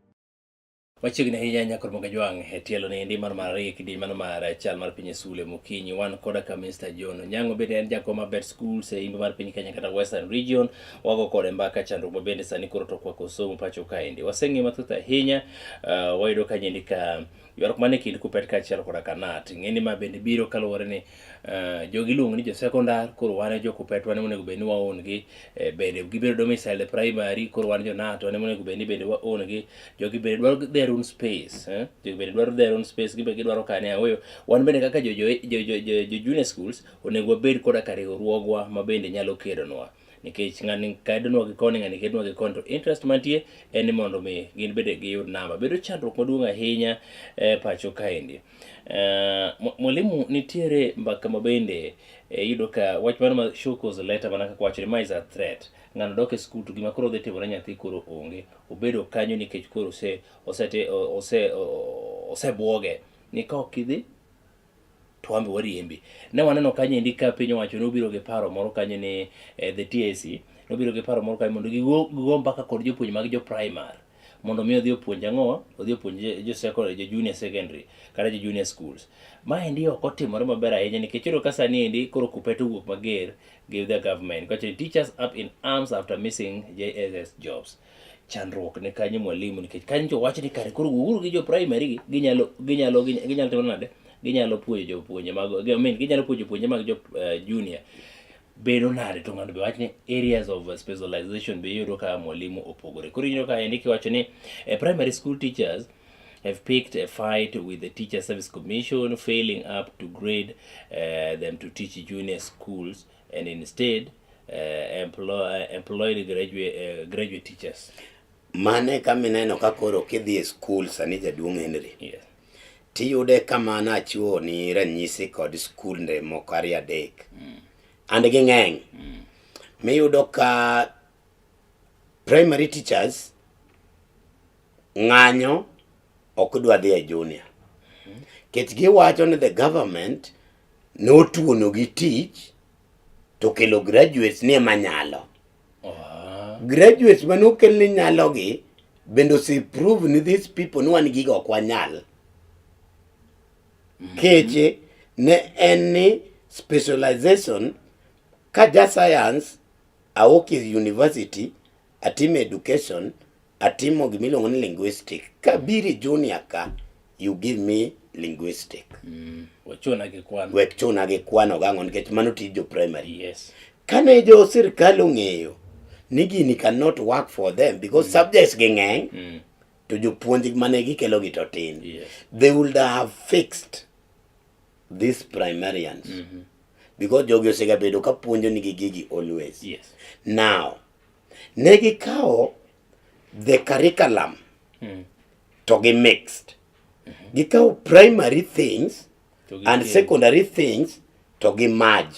A: Machiegni ahinya nyaka Ramogi Ajwang' e tielo ni endi mar mar ariyo kidieny mano mar chal mar piny Sule Mokinyi wan koda ka Mr. John Onyango bende en jakom ma bet schools e imbo mar piny Kenya kata Western Region wago kode mbaka chandruok ma bende sani koro to kwako somo pacho kaendi waseng'e mathoth ahinya uh, wayudo kanyendi ka Ywaruok mane kind Kupet kaachiel koda Kanat, ing'eni ma bende biro kaluwore ni uh, jogi iluongo ni josekondar, koro wan e jokupet wan emonego bed ni waon gi eh, bende gibedo domicile primary, koro wan jonat wan emonego bed ni bende waon gi jogi bende dwaro their own space eh? jogi bende dwaro their own space gibe gidwaro kane aoyo wan bende kaka jo, jo, jo, jo, jo, jo junior schools onego wabed koda ka riwruogwa ma bende nyalo kedonwa nikech ng'ani kedonwa gi koni ng'ani kedonwa gi koni to interest mantie en ni mondo mi gin bende giyud namba bedo chandruok maduong' ahinya e pacho kaendi eh, mwalimu nitiere mbaka ma bende eh, yudo ka wach mano ma shokos leta mana kaka wacho ni ma is a threat ng'ano dok e skul to gima koro dhi timore nyathi koro onge obedo kanyo nikech koro ose ose ose osebwoge ni ka ok idhi to wambe wariembi. Ne waneno kanyo endi ka piny owacho nobiro gi paro moro kanyo ni eh, the TSC nobiro gi paro moro kanyo mondo gigo gigo mbaka kod jopuonj mag jo primary mondo mi odhi opuonj ang'o odhi opuonj jo- jo secondary jo junior secondary kata jo junior schools ma endi ok otimore maber ahinya nikech iyudo ka sani endi koro kupet owuok mager give the government kacho ni teachers up in arms after missing JSS jobs chandruok ne kanyo mwalimu nikech kanyo to wach ni kare koro wuoguru gi jo primary gi ginyalo ginyalo ginyalo timo nade ginyalo puonjo jopuonje mag I mean, ginyalo puonjo jopuonje mag jo uh, junior bedo nade to ng'ato be wach ni areas of specialization be iyudo ka mwalimu opogore koro iyudo ka endi kiwacho ni eh, primary school teachers have picked a fight with the Teacher Service Commission, failing up to grade uh, them to teach junior schools and instead uh, employ, uh, employed graduate, uh, graduate teachers. Mane kama
B: ineno ka koro kidhi e skul sani jaduong' Henry. Yes.
A: Tiyude
B: kama nachiwo ni ranyisi kod skulnde moko ariyo adek. Mm. And ging'eny. Mm. Miyudo ka primary teachers ng'anyo ok dwa dhi e junior. Mm. Kech giwacho ni the government notuonogi tich to kelo graduates ni ema nyalo ah. graduates mane okel ni nyalogi bende ose prove ni these people ni wan gigo ok wanyal mm-hmm. keche ne en ni specialization ka ja science aoki university atimo education, atimo gima iluongo ni linguistic. Kabiro e junior ka, you give me linguistic. Mm. Wechuna
A: gi kwano. Wechuna gi kwano gang'o
B: nikech mano tij jo primary. Yes. Kane
A: jo
B: sirkal ong'eyo ni gini cannot work for them because mm. subjects gi ng'eny mm. to jopuonj mane gikelo gi to tin. Yes. They would
A: have
B: fixed these primarians. Mm -hmm. Because jogi osegabedo ka puonjo nigi gigi always. Yes. Now, Ne gikawo the curriculum mm. to gi mixed. Mm -hmm. Gikawo primary things and secondary things to gi merge.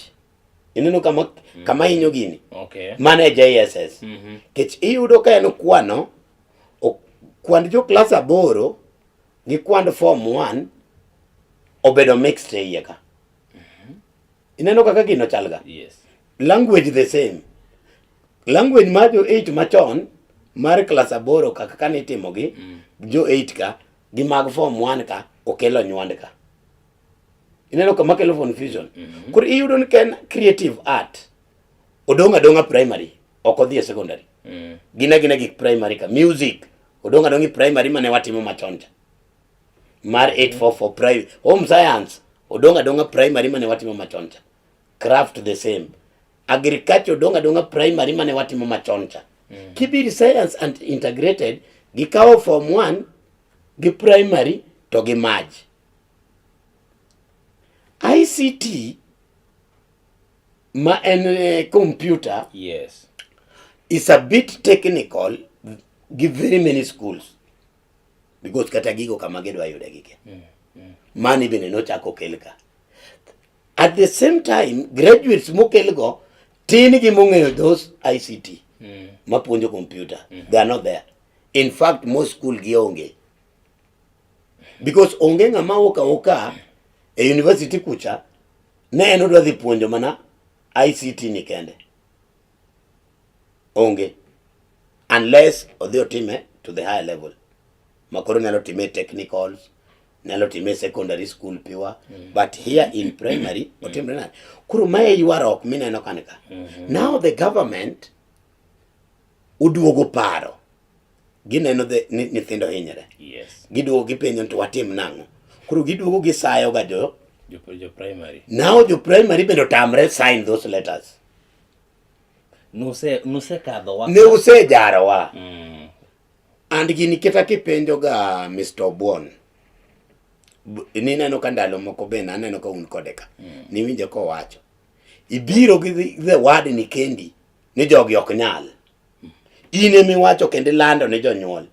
B: Ineno kama, mm -hmm. kama inyo gini. Okay. Mane
A: JSS. Mm
B: -hmm. Kech iyudo ka en kwano, kwand jo klas aboro gi kwand form 1 obedo mixed e iye ka. Ineno kaka gino chalga? Yes.
A: Language the
B: same. Language ma jo 8 machon mar klas aboro kaka kane itimogi mm. jo 8 ka gi mag form 1 ka okelo nywand ka. Ineno kama kelo confusion. Mm -hmm. Koro iyudo ni ken creative art odong' adong'a primary ok odhi e secondary. Mm. Gina gina gik primary ka music odong' adong'i primary mane watimo machon cha. mar 844 primary home science odong' adong'a primary mane watimo machon cha craft the same agriculture odong' adong'a primary mane watimo machon cha mm. kibiri science and integrated gikawo form 1 gi primary to gi maj ICT ma en eh, computer yes
A: is a
B: bit technical give very many schools because kata gigo kama gidwa yude gike mm, mm. mani bende nochako okel ka at the same time graduates mokel go tin gi mong'eyo those ICT mm. mapuonjo computer mm -hmm. they are not there in fact most school gi onge because onge ng'ama oka oka e university kucha ne en odwa dhi puonjo mana ICT ni kende Onge. Unless odhi otime to the higher level. Makoro nyalo time technicals, nyalo time secondary school piwa, mm. but here in primary, mm. otimre nade? Koro mae ywarok mineno kani ka. Mm -hmm. Now the government oduogo paro. Gineno the nyithindo hinyre. Yes. Giduogo
A: gipenjo to
B: watim nang'o? Koro giduogo gisayo ga jo jo primary.
A: Now jo primary
B: bende otamre sign those letters.
A: nuse nuse kadho wa ne usejaro wa
B: mm. and gini keta kipenjo ga Mr. Obwon ni neno ka ndalo moko be naneno ka un kode ka mm. niwinje kowacho ibiro gi the word ni kendi ni jogi ok nyal mm. in emiwacho kendo ilando ne jonyuol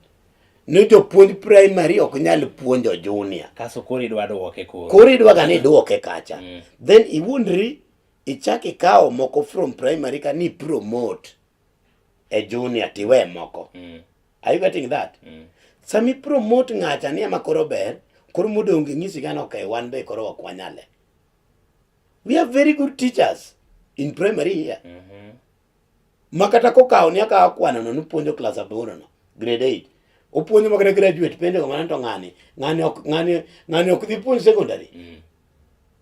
B: ni jopuonj primary ok nyal puonjo junior kaso koro idwa duoke
A: koro koro idwa ga ni duoke
B: kacha mm. then iwuondri ichak ikawo moko from primary ka ni promote e junior tiwe moko mm. are you getting that mm. sami promote ng'acha ni ema koro ber koro modong ng'isi gana okay wan be koro ok wanyale we have very good teachers in primary here mm -hmm. ma kata kokawo ni akawo kwanano ni puonjo klas aborono grade eight opuonjo makata graduate pende ko ng'ani to ng'ani ng'ani ok ng'ani ng'ani ok dhi puonj secondary mm.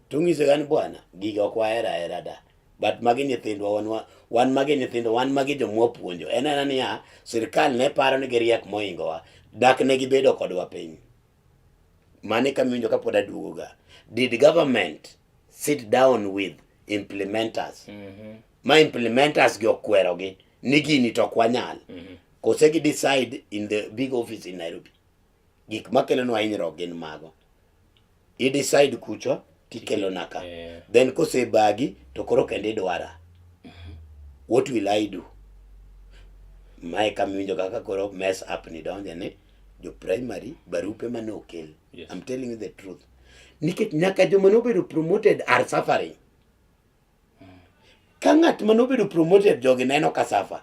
B: to ng'ise gani bwana gigi ok wahera hera da but magi nyithindwa wan wan magi nyithindo wan magi jomwa puonjo en ena niya sirikal ne paro ni giriek moingowa dak ne gibedo kodwa piny mane kamiwinjo kapod aduogoga did government sit down with implementers mm -hmm. ma implementers gi okwerogi ni gini to ok wanyal mm -hmm. kose gi decide in the big office in Nairobi gik makelonwa hinyruok gin mago i decide kucho tikelona ka yeah. then kosebagi to koro kendo idwara mm -hmm. what will I do mae kamiwinjo kaka koro mess up ni donje ni jo primary barupe mane okel yes. I'm telling you the
A: truth
B: nikech nyaka joma nobedo promoted are suffering Ka ng'at ma nobedo promoted jogi neno ka safa,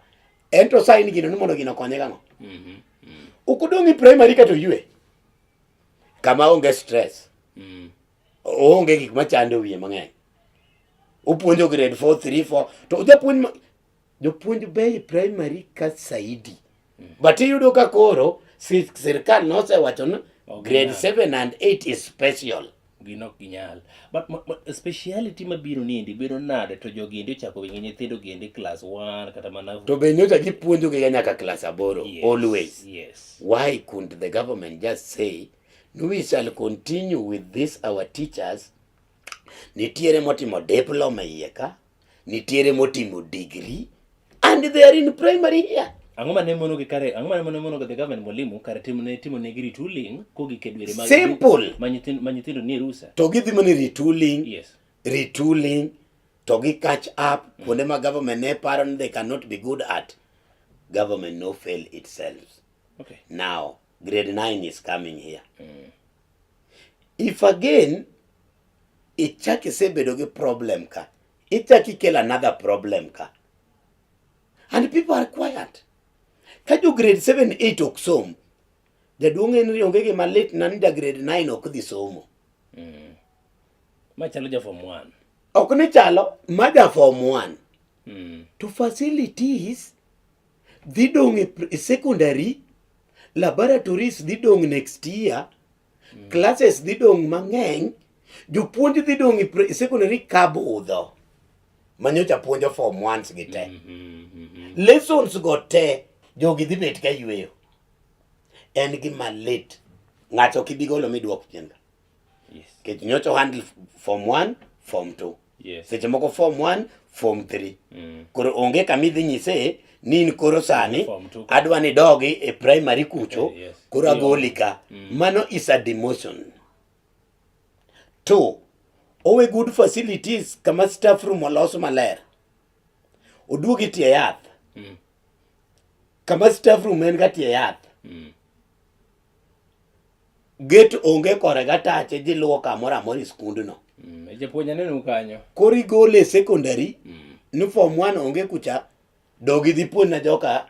B: en to sign gino ni mondo gino konye gang'o? Mhm, mm, Ok odong' e primary ka to yue. Kama onge stress. mm. oonge gik machando wiye mang'eny opuonjo grade 4 3 4 to ojapuonj ma- Jopuonj bei primary ka saidi. Mm. But iyudo ka koro sirkal nosewacho ni grade 7 and 8 is special. Gino ok ginyal.
A: But ma, ma, speciality mabiro niendi bedo nade to jogi endi ochako wingi nyithindo gi endi class 1 kata mana To be nyocha gipuonjo
B: gi nyaka class 8 yes, always. Yes. Why
A: couldn't the
B: government just say no we shall continue with this our teachers nitiere motimo diploma iye ka Nitiere motimo degree and they are in primary here. Ang'o ma ne mono gi
A: kare, ang'o ma ne mono gi the government mwalimu kare timo ne timo ne gi retooling kogik e dwere mag Simple. ma nyithindo
B: ma nyithindo nie
A: rusa. To gidhi mana retooling,
B: Yes.
A: retooling
B: to gi catch up kuonde ma government ne paro ni they cannot be good at. Government no fail itself. Okay. Now grade 9 is coming here. If again ichak isebedo gi problem ka, ichak ikel another problem ka. And people are quiet. Ka jo grade 7, 8 ok som, jaduong' Henry onge gima lit na ni ja grade 9 ok dhi somo. Mm.
A: Ma chalo ja form 1. Ok ni chalo,
B: ma ja form 1. Mm. To facilities dhi dong' e secondary laboratories dhi dong' next year mm. classes dhi dong' mang'eny jopuonj dhi dong' e secondary kabudho manyocha puonjo form ones gi te mm -hmm, mm -hmm. lessons go te jogi dhi bet ka yweyo en gima lit ng'ato kibigolo midwok chien Yes. Kech
A: nyocha handle
B: form 1, form 2. Yes. Seche moko form
A: 1,
B: form 3. Mm. Koro onge kama idhi nyise ni in koro sani adwa ni
A: dogi e
B: primary kucho okay, eh, yes. koro agoli
A: ka.
B: Mm. Mano is a demotion. Two, owe good facilities kama staff room olos maler. Oduogi tie yath. Mm. Kama staff room en ga tie yath. Mm. Gate onge kore gatache dhi luwo kamoro amora e skundno. Mm, e japuonj aneno
A: kanyo. Koro igole e
B: secondary mm. ni form 1 onge kucha dog idhi puonj na joka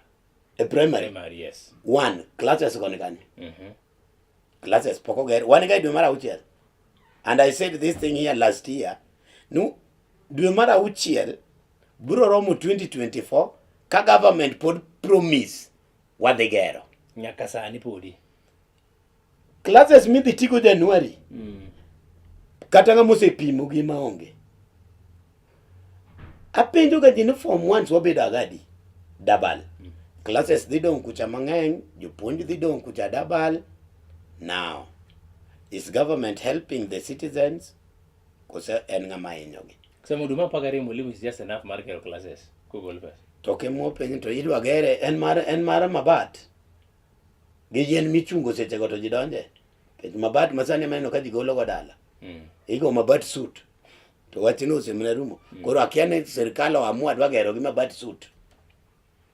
B: e primary. Primary yes. One
A: classes
B: koni kanyo. Mhm. Mm classes pok oger. Wan ga dwe mar auchiel. And I said this thing here last year. No dwe mar auchiel biro romo 2024 ka government pod promise wadhi gero nyaka sani
A: podi
B: classes midhi tigo Januari mm. kata ng'ama osepimo gi ma onge apenjo ga ji ni form ones wabedo agadi dabal mm. classes dhi dong' kucha mang'eny jopuonj dhi dong' kucha dabal now is government helping the citizens kose en ng'ama hinyogi Sema huduma mpaka ri
A: mwalimu is just enough mar kero classes. Google Pass. To ke mo penyo to
B: yidwa gere en mar en mar mabat. Gi yien michungo seche go to jidonje. Kech mabat masani maneno ka jigolo go dala. Mm. Igo mabat suit. To wachino osemna rumo. Mm. Koro akia ni serikal oamua dwa gero gi mabat suit.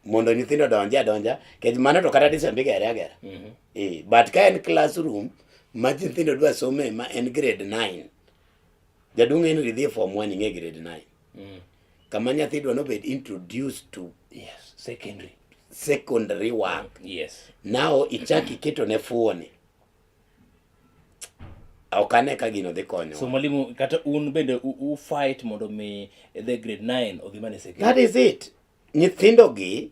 B: Mondo nyithindo donje adonja. Kech mano to kata disembi gere agera. Mm -hmm. Eh, but ka en classroom ma nyithindo dwa some ma en grade 9. Jaduong' Henry dhi e form 1 ing'e grade 9. Mm. Kama nyathi dwa nobed introduced to yes, secondary secondary work. Yes. Now
A: ichaki
B: keto ne fuoni. Ok ane ka gino dhi konyo. So mwalimu kata un
A: bende u fight mondo mi the grade 9 odhi mane secondary. That is it.
B: Nyithindo gi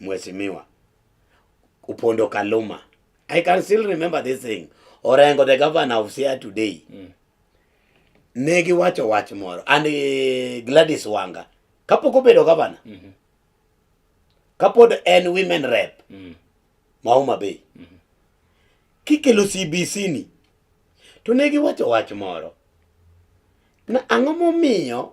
B: Mheshimiwa Upondo Kaluma. I can still remember this thing. Orengo, the governor of Siaya today. Mm. Ne giwacho wach moro and uh, Gladys Wanga kapok obedo governor. Mm -hmm. Kapod en women rep. Mm -hmm. Mauma Bay. Mm -hmm. Kikelo CBC ni to ne giwacho wach moro na ang'o momiyo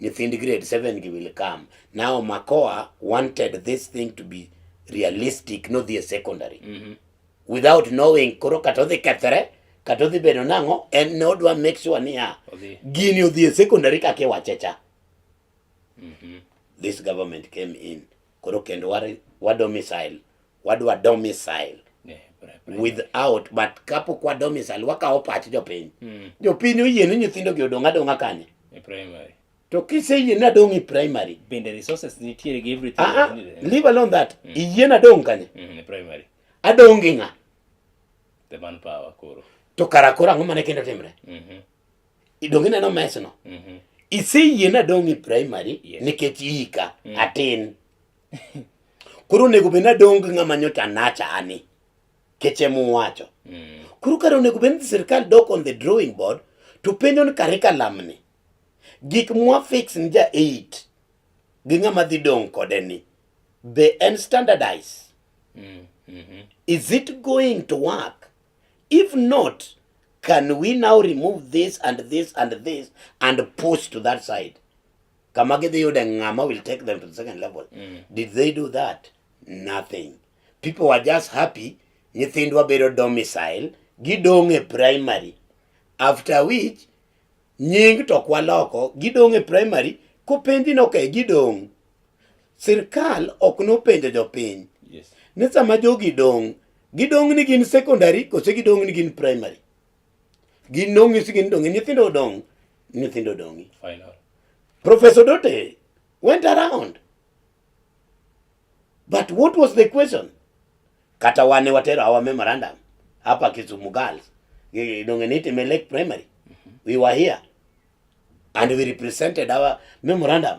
B: nyithind grade 7 gi will come now makoa wanted this thing to be realistic nodhi e secondary mm -hmm. without knowing koro kata odhi kethre kata odhi bedo nang'o en ne odwa make sure niya gini odhi e secondary kaka iwache cha mm -hmm. this government came in koro kendo wado missile wadwa domicile yeah, without but kapok wa domicile wakawo pach jopiny mm. jopiny oyie ni nyithindo gi odong' adong'a kanye e primary
A: to kiseyie
B: ni adong' e primary bende resources
A: nitiere gi everything uh -huh. leave alone that mm.
B: iyie ni adong' kanye mm, e primary
A: adong' gi ng'a
B: the
A: man power koro to kara koro ang'o
B: mane kendo timre mm -hmm. idong' ineno mesno mm -hmm. iseyie ni adong' e primary yeah. nikech iika mm. atin Koro onego bed nadong' gi ng'ama nyocha nacha ani kech ema uwacho. Mm. Koro kare onego bed ni sirkal dok on the drawing board to penjo ni curriculum ni gik mwa fix ni ja 8 gi ng'ama dhi dong' kode ni be en standardize. Mm. Mm -hmm. Is it going to work? If not, can we now remove this and this and this and push to that side? kama gidhi yude ng'ama will take them to the second level mm. did they do that nothing people were just happy nyithindwa bedo domicile gidong' e primary after which nying to kwaloko gidong' e primary kopenji noke gidong' sirkal ok nopenjo jopiny yes. ni sama
A: jogi
B: dong' gidong' ni gin secondary kose gidong' ni gin primary Gin nong'isi gin donge nyithindo odong nyithindo odongi. Final.
A: Professor
B: Dote went around. But what was the question? Kata wane watero our memorandum hapa Kisumu girls donge nitime Lake Primary. Mm -hmm. We were here and we represented our memorandum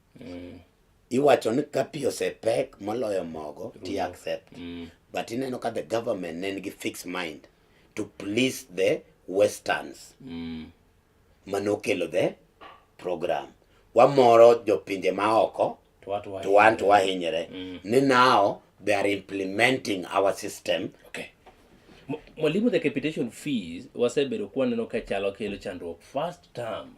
B: mm. iwacho ni ka pi osepek moloyo mogo ti mm. accept mm. but ineno ka the government ne nigi fixed mind to please the westerns mm. manokelo the program wamoro jopinje maoko to wan to wahinyre mm. ni now they are implementing our system okay.
A: Mwalimu, the capitation fees wasebedo kwaneno ka chalo kelo chandruok first term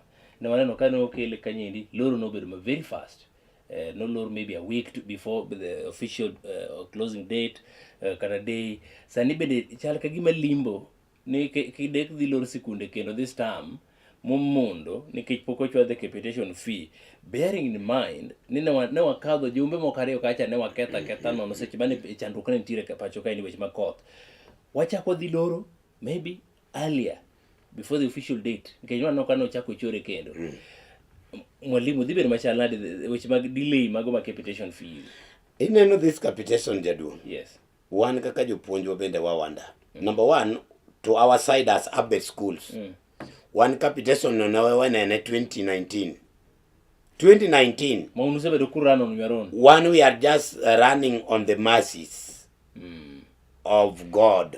A: Ne waneno ka ne okele kanyendi, loro nobedo ma very fast. Uh, no lor maybe a week to before the official uh, closing date uh, kata day sani bende chal ka gima limbo ni kidek dhi lor sikunde kendo this term momondo nikech pok ochwadhe capitation fee bearing in mind ni ne wakadho jumbe moko ariyo kacha ne waketha ketha nono seche mane chandruok ne nitiere pacho kae ni weche makoth wachako dhi loro maybe earlier before the official date nikech waneno ka nochako chore kendo mm. mwalimu dhi bedo machal nade weche mag delay mago ma capitation fee ineno this
B: capitation jaduong yes wan
A: kaka
B: jopuonjwa bende wawanda mm. number one to our side as abet schools mm. wan capitation no nawewenene 2019 2019 maunusebedo
A: ku run on your own one we are just
B: running on the masses mm. of god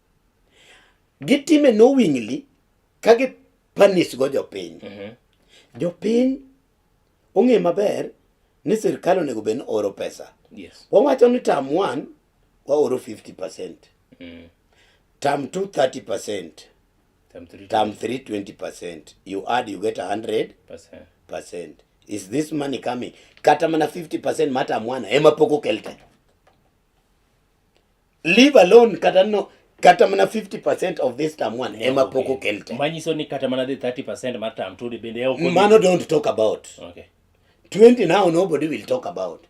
B: gitime knowingly ka gi punish go jopiny mm -hmm. jopiny ong'e maber ni sirkal onego bed ni oro pesa yes. wawacho ni
A: tam
B: one waoro 50 percent mm. tam two 30 percent tam three, tam three 20 percent you add you get 100 percent, percent. is this money coming kata mana 50 percent mata mwana ema pok okel te leave alone kata no kata mana 50% of this term one yeah, ema pok okel te manyiso ni kata mana
A: the 30% mar term two bende e okel mano don't talk
B: about
A: okay
B: 20 now nobody will talk about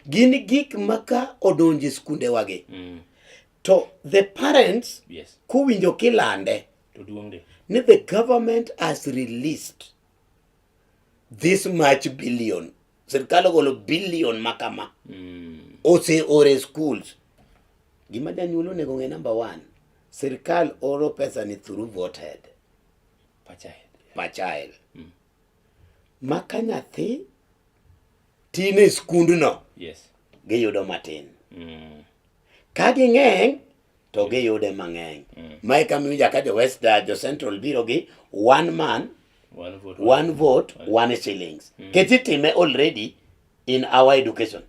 B: gin gik maka odonje skunde wagi mm. to the parents yes kuwinjo
A: kilande
B: to duongde ni the government has released this much billion sirkal ogolo billion ma kama mm. ose ore schools gima janyuol onego ng'e number one sirkal oro pesa ni through voted pachael mm. ma ka nyathi tin e skundno yes.
A: giyudo matin
B: mm. ka ging'eny to mm. giyude mang'eny mm. mae ka miwinja ka jo west uh, jo central biro gi one man one vote one, one, vote, one, one shillings mm. kech itime already in our education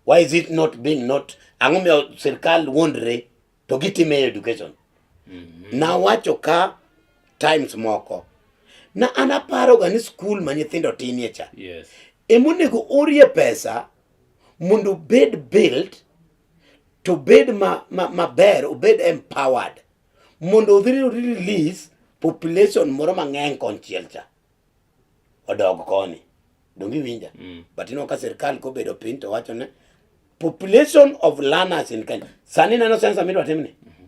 B: why is it not being not ang'o miyo sirkal wuondre to gitime e education mm -hmm. nawacho ka times moko na an aparoga ni skul ma nyithindo tinie cha yes. emonego orie pesa mondo obed build to bed maber ma, ma obed empowered mondo odhi release population moro mang'eny konchiel cha odog koni donge iwinja mm. but ineno ka sirkal kobedo piny to wacho ne population of learners in Kenya sani neno sensa midwa timni mm.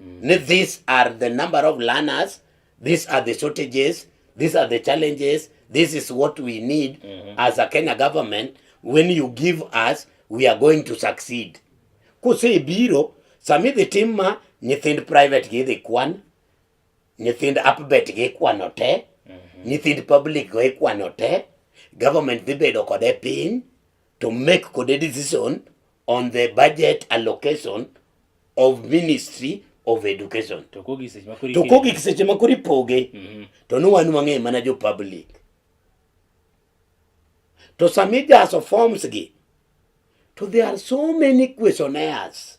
B: mm. these are the number of learners these are the shortages these are the challenges this is what we need mm -hmm. as a Kenya government when you give us we are going to succeed kuse biro sami dhi tim ma nyithind private gi dhi kwan nyithind upbet gi kwano te mm -hmm. nyithind public go ikwano te government dhi bedo kode piny to make kode decision on the budget allocation of ministry of education to kogi seche ma kori poge mhm. to no wan wang'e mana jo public to sami jaso forms gi to there are so many questionnaires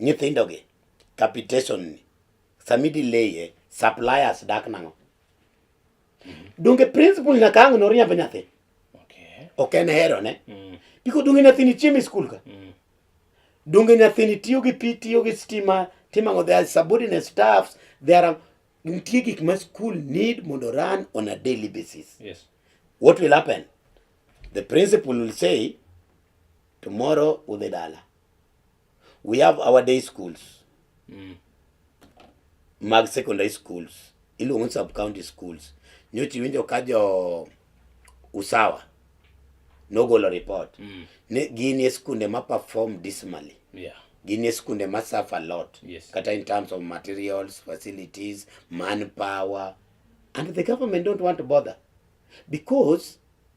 A: Nyithindo
B: gi, capitation ni, sami delay suppliers dak nango. Donge principal na kango no riambo nyathi. Okay. Ok
A: en hero ne.
B: Mm. Iko donge nyathi ni chiemi school ka. Mm. Donge nyathi ni tiyo gi pi, tiyo gi stima, timango their subordinate staffs, there are nitie gik ma school need mondo run on a daily basis. Yes. What
A: will happen?
B: The principal will say tomorrow udhi dala. We have our day schools mm. mag secondary schools iluongo sub county schools. Nyocha iwinjo ka jo Usawa nogolo report mm. ni gin e skunde ma perform dismally yeah. gin e
A: skunde ma
B: suffer a lot yes. kata in terms of materials facilities manpower and the government don't want to bother because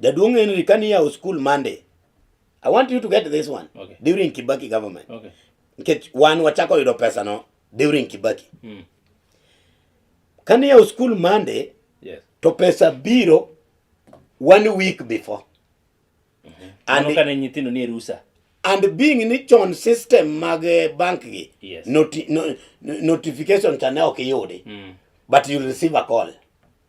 B: Jaduong' Henry kani yawo school Monday. I want you to get this one. Okay. During Kibaki
A: government.
B: Okay. Nikech
A: wan
B: wachako yudo pesa no during Kibaki. Mm. Kani yawo school Monday. Yes. To pesa
A: biro
B: one week before. Mm
A: -hmm. And Mano kane nyithindo ni rusa. And being ni
B: chon system mag eh, bank gi. Yes. Noti,
A: no,
B: notification cha ne ok iyudi. Mm. But you receive a call.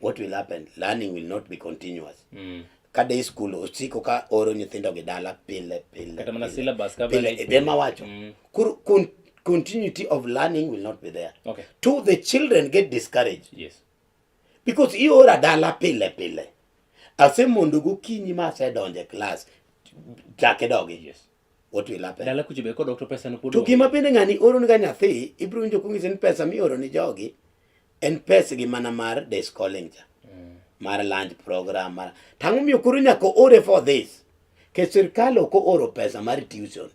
B: what will happen learning will not be continuous mm. ka day school osiko ka oro nyithindo gi dala pile pile kata mana syllabus
A: ka pile e ma wacho mm.
B: kur kun continuity of learning will not be there okay. to the
A: children
B: get discouraged yes
A: because
B: iora dala pile pile ase mondo gokinyi ma asedonje class chake dogi yes what will
A: happen dala
B: kucho be kodok to pesa no
A: kudo to gima bende ngani
B: oro
A: ni
B: nyathi ibro winjo kungise ni pesa mi oro ni jogi en pesa gi mana mar day schooling cha mm. mar lunch program mar tangu mi okuru nyaka ore for this ke sirkal ok oro pesa mar tuition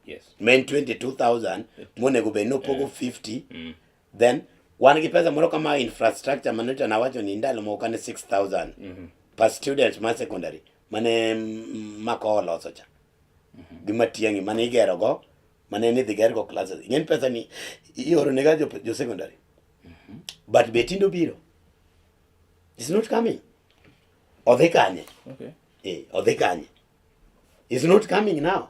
B: yes
A: men 22000
B: monego be no pogo 50 mm. then wan gi pesa moro kama infrastructure mane to nawacho ni ndalo moko kane 6000 mm -hmm. per student ma secondary mane mako oloso cha mm -hmm. gi matiangi mane igero go mane ni dhi gergo classes ing'en pesa ni ioro ne ga jo, jo secondary mm -hmm. but be tindo biro is not coming odhi kanye okay. eh,
A: odhi kanye
B: is not coming now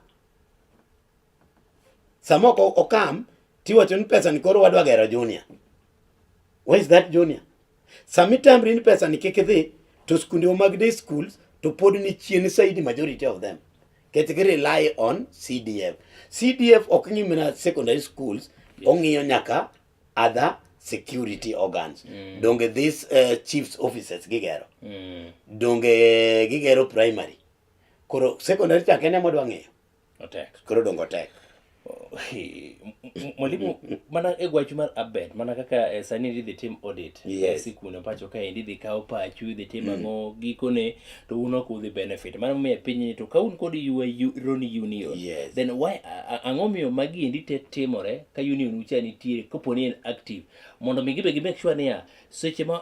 B: Sama ok okam tiwacho ni pesa ni koro wadwa gero junior. Where is that junior? Sami tamri ni pesa ni kik idhi to skunde mag day schools to pod ni chien saidi majority of them. Ket gi rely on CDF. CDF ok ng'i mana secondary schools, ong'iyo nyaka other security organs. Mm. Donge these uh, chiefs offices gigero. Mm. Donge gigero primary. Koro secondary chakene modwa ng'iyo. Otek. koro
A: dongo tek
B: Hi, m- m-
A: mwalimu mana e gwachu mar abet mana kaka eh, sani idhi tim audit Yes. e sikune pacho
B: ka endi
A: idhi kawo pachu idhi tim ang'o gikone to un ok udhi benefit mano miyo pinyni to ka un kod yua yu- roni union Yes. then why a- a- ang'o miyo magi endi te timore ka union ucha nitiere koponi en active mondo mi gibe gi make sure niya seche ma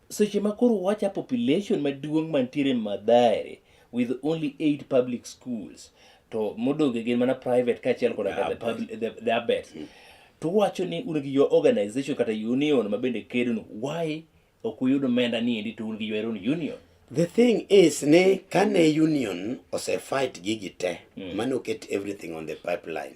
A: Seche ma koro wacha population maduong' mantiere Mathare with only eight public schools to modonge gin mana private kaachiel koda the, public, the, the abet mm. to wacho ni un gi your organization kata union ma bende kedonu why ok uyud omenda ni endi to un gi your own union The thing
B: is ni kane union ose fight gigi te mm. mane oket everything on the pipeline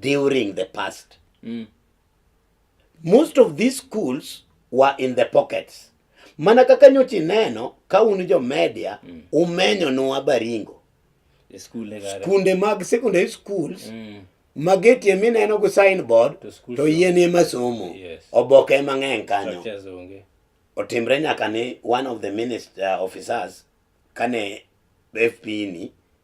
B: during the past. Mm. Most of these schools were in the pockets. Mana kaka nyochi neno ka un jo media mm. umenyo nwa Baringo. Skunde mag secondary schools mm. magetie mineno go signboard to, to yien ema somo yes. oboke ema ng'eny kanyo otimre nyaka ni one of the minister uh, officers kane FP ni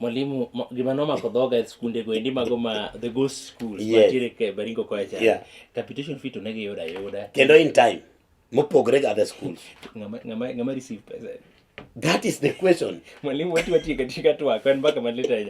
A: Mwalimu, gima nomako dhoga e skunde go endi mago ma the ghost school yes. mantiere ke Baringo koya cha. Yeah. Capitation fee to ne giyuda yuda. Kendo in time
B: mopogre ga the schools. Ngama ngama ngama
A: receive pesa. That is the
B: question. Mwalimu wetu watie
A: katika tu akwa mpaka maleta ya.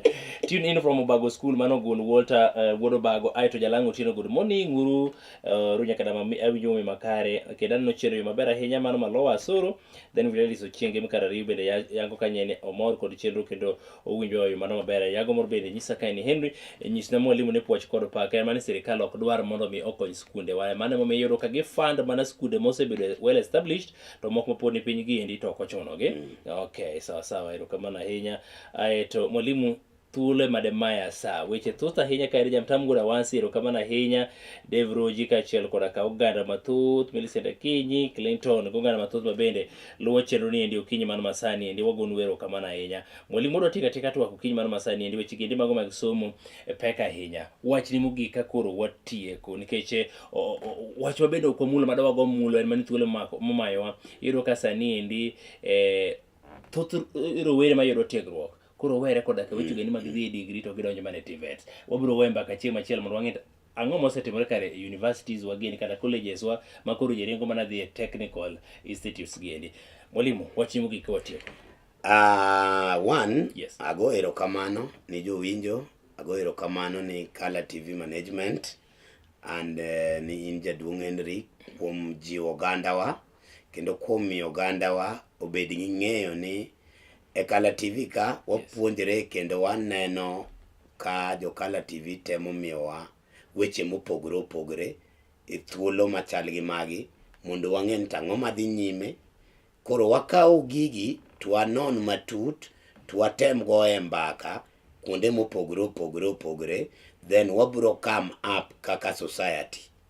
A: Tune in from Obago School mano gun Walter uh, eh, Wodo Bago aito jalango tino good morning uru uh, eh, runya kadama awinyo makare kedan no chero yo mabera henya mano malowa soro then Fidelis Ochienge Mikar Ariyo bende yango ka nyene omor kod chenro kendo owinjo oyo mano maber yago mor bende nyisa ka en Henry e nyis na mwalimu ne puoch kod pak en mane sirikal ok dwar mondo mi okony skunde wa mane momiyo iyudo ka gifund mana skunde mosebedo well established to moko mapod ni piny giendi to ok ochunogi mm. okay sawa sawa erokamano ahinya aeto mwalimu thuolo ema demaya sa weche thoth ahinya ka en jamtamgura wansi erokamano ahinya dev roji kaachiel koda ka oganda mathoth milicent akinyi clinton gi oganda mathoth ma bende luwo chenro ni endi okinyi mano masani endi wagonu erokamano ahinya mwalimu odwa tika tika twak okinyi mano masani endi weche giendi mago mag somo e pek ahinya wach ni mogik ka koro watieko nikech e, wach ma bende ok wamulo ma dawago mulo en mani thuolo momayowa iyudo ka sani endi eh, thoth rowere mayudo tiegruok koro were koda ka weche gani mag dhi e degree to gidonjo mana e TVET. Wabiro we mbaka chieng' machielo mondo wang'e ang'o mosetimore kare e universities wa gini kata colleges wa ma koro ji ringo mana dhi e technical institutes giendi. Mwalimu, wach ni mogik ka watieko. Ah,
B: one, Yes. ago
A: erokamano
B: ni jowinjo, ago erokamano ni Kala TV Management and eh, ni in jaduong' Henry kuom jiwo ogandawa. kendo kuom miyo ogandawa obed gi ng'eyo ni e Kala TV ka wapuonjre kendo waneno ka jo Kala TV temo miyowa weche mopogore opogore e thuolo machal gi magi mondo wang'e ni tang'o madhi nyime. Koro wakawo gigi to wanon matut to watem goye mbaka kuonde mopogore opogore opogore then wabiro come up kaka society.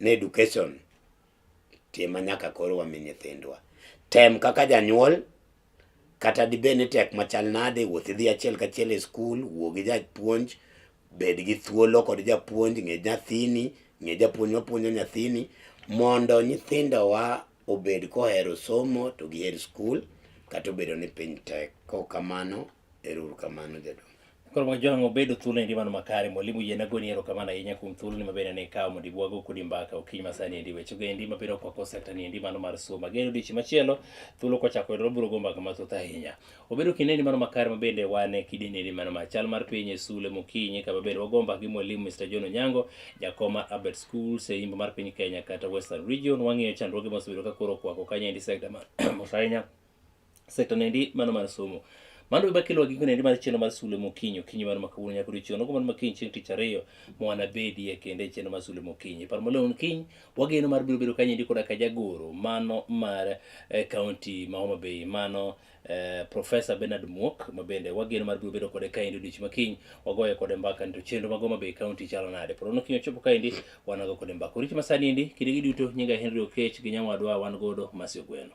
B: ne education tima nyaka koro wami nyithindwa tem kaka janyuol kata dibed ni tek machal nade wuoth idhi achiel kachiel e skul wuo gi japuonj bed gi thuolo kod japuonj ng'e nyathini ng'e japuonj mapuonjo nyathini mondo nyithindowa obed kohero somo to giher skul kata obedo ni piny tek. Kaok kamano Erokamano jadongo. Koro ma jwang'
A: obedo thuolo endi mano makare mwalimu yie nagoni erokamano ahinya kuom thuolo ni mabende ne ikawo mondo ibwago kodi mbaka okinyi masani endi weche go endi mabiro kwako sekta ni endi mano mar somo ageno odiochieng' machielo thuolo kochako yudore biro go mbaka mathoth ahinya obedo kinde endi mano makare mabende wan e kidini endi mano mar chal mar piny e sule mokinyi kama bende wago mbaka gi mwalimu Mr. John Onyango jakom mar Abed Schools e imbo mar piny Kenya kata Western Region wang'iyo chandruoge mosebedo ka koro okwako kanyo endi sekta mar ahinya sekta nendi mano mar somo mano baba kelo giko nendi mar chenro mar sule mokinyo kinyo mano makawuono nyaka odiochieng' nogo mano makiny chieng' tich ariyo mwana bedie kende chenro mar sule mokinyi par molon kiny wageno mar biro bedo kanyendi koda ka jagoro mano mar eh, county ma Homa Bay mano eh, Professor Bernard Muok ma bende wageno mar biro bedo kode kaendi odiochieng' makiny wagoye kode mbaka nito chenro mag Homa Bay county chalo nade porono kiny ochopo kaendi wanago kode mbaka oriti masani endi kinde gi duto nyinga Henry Okech gi nyawadwa wan godo masi ogweno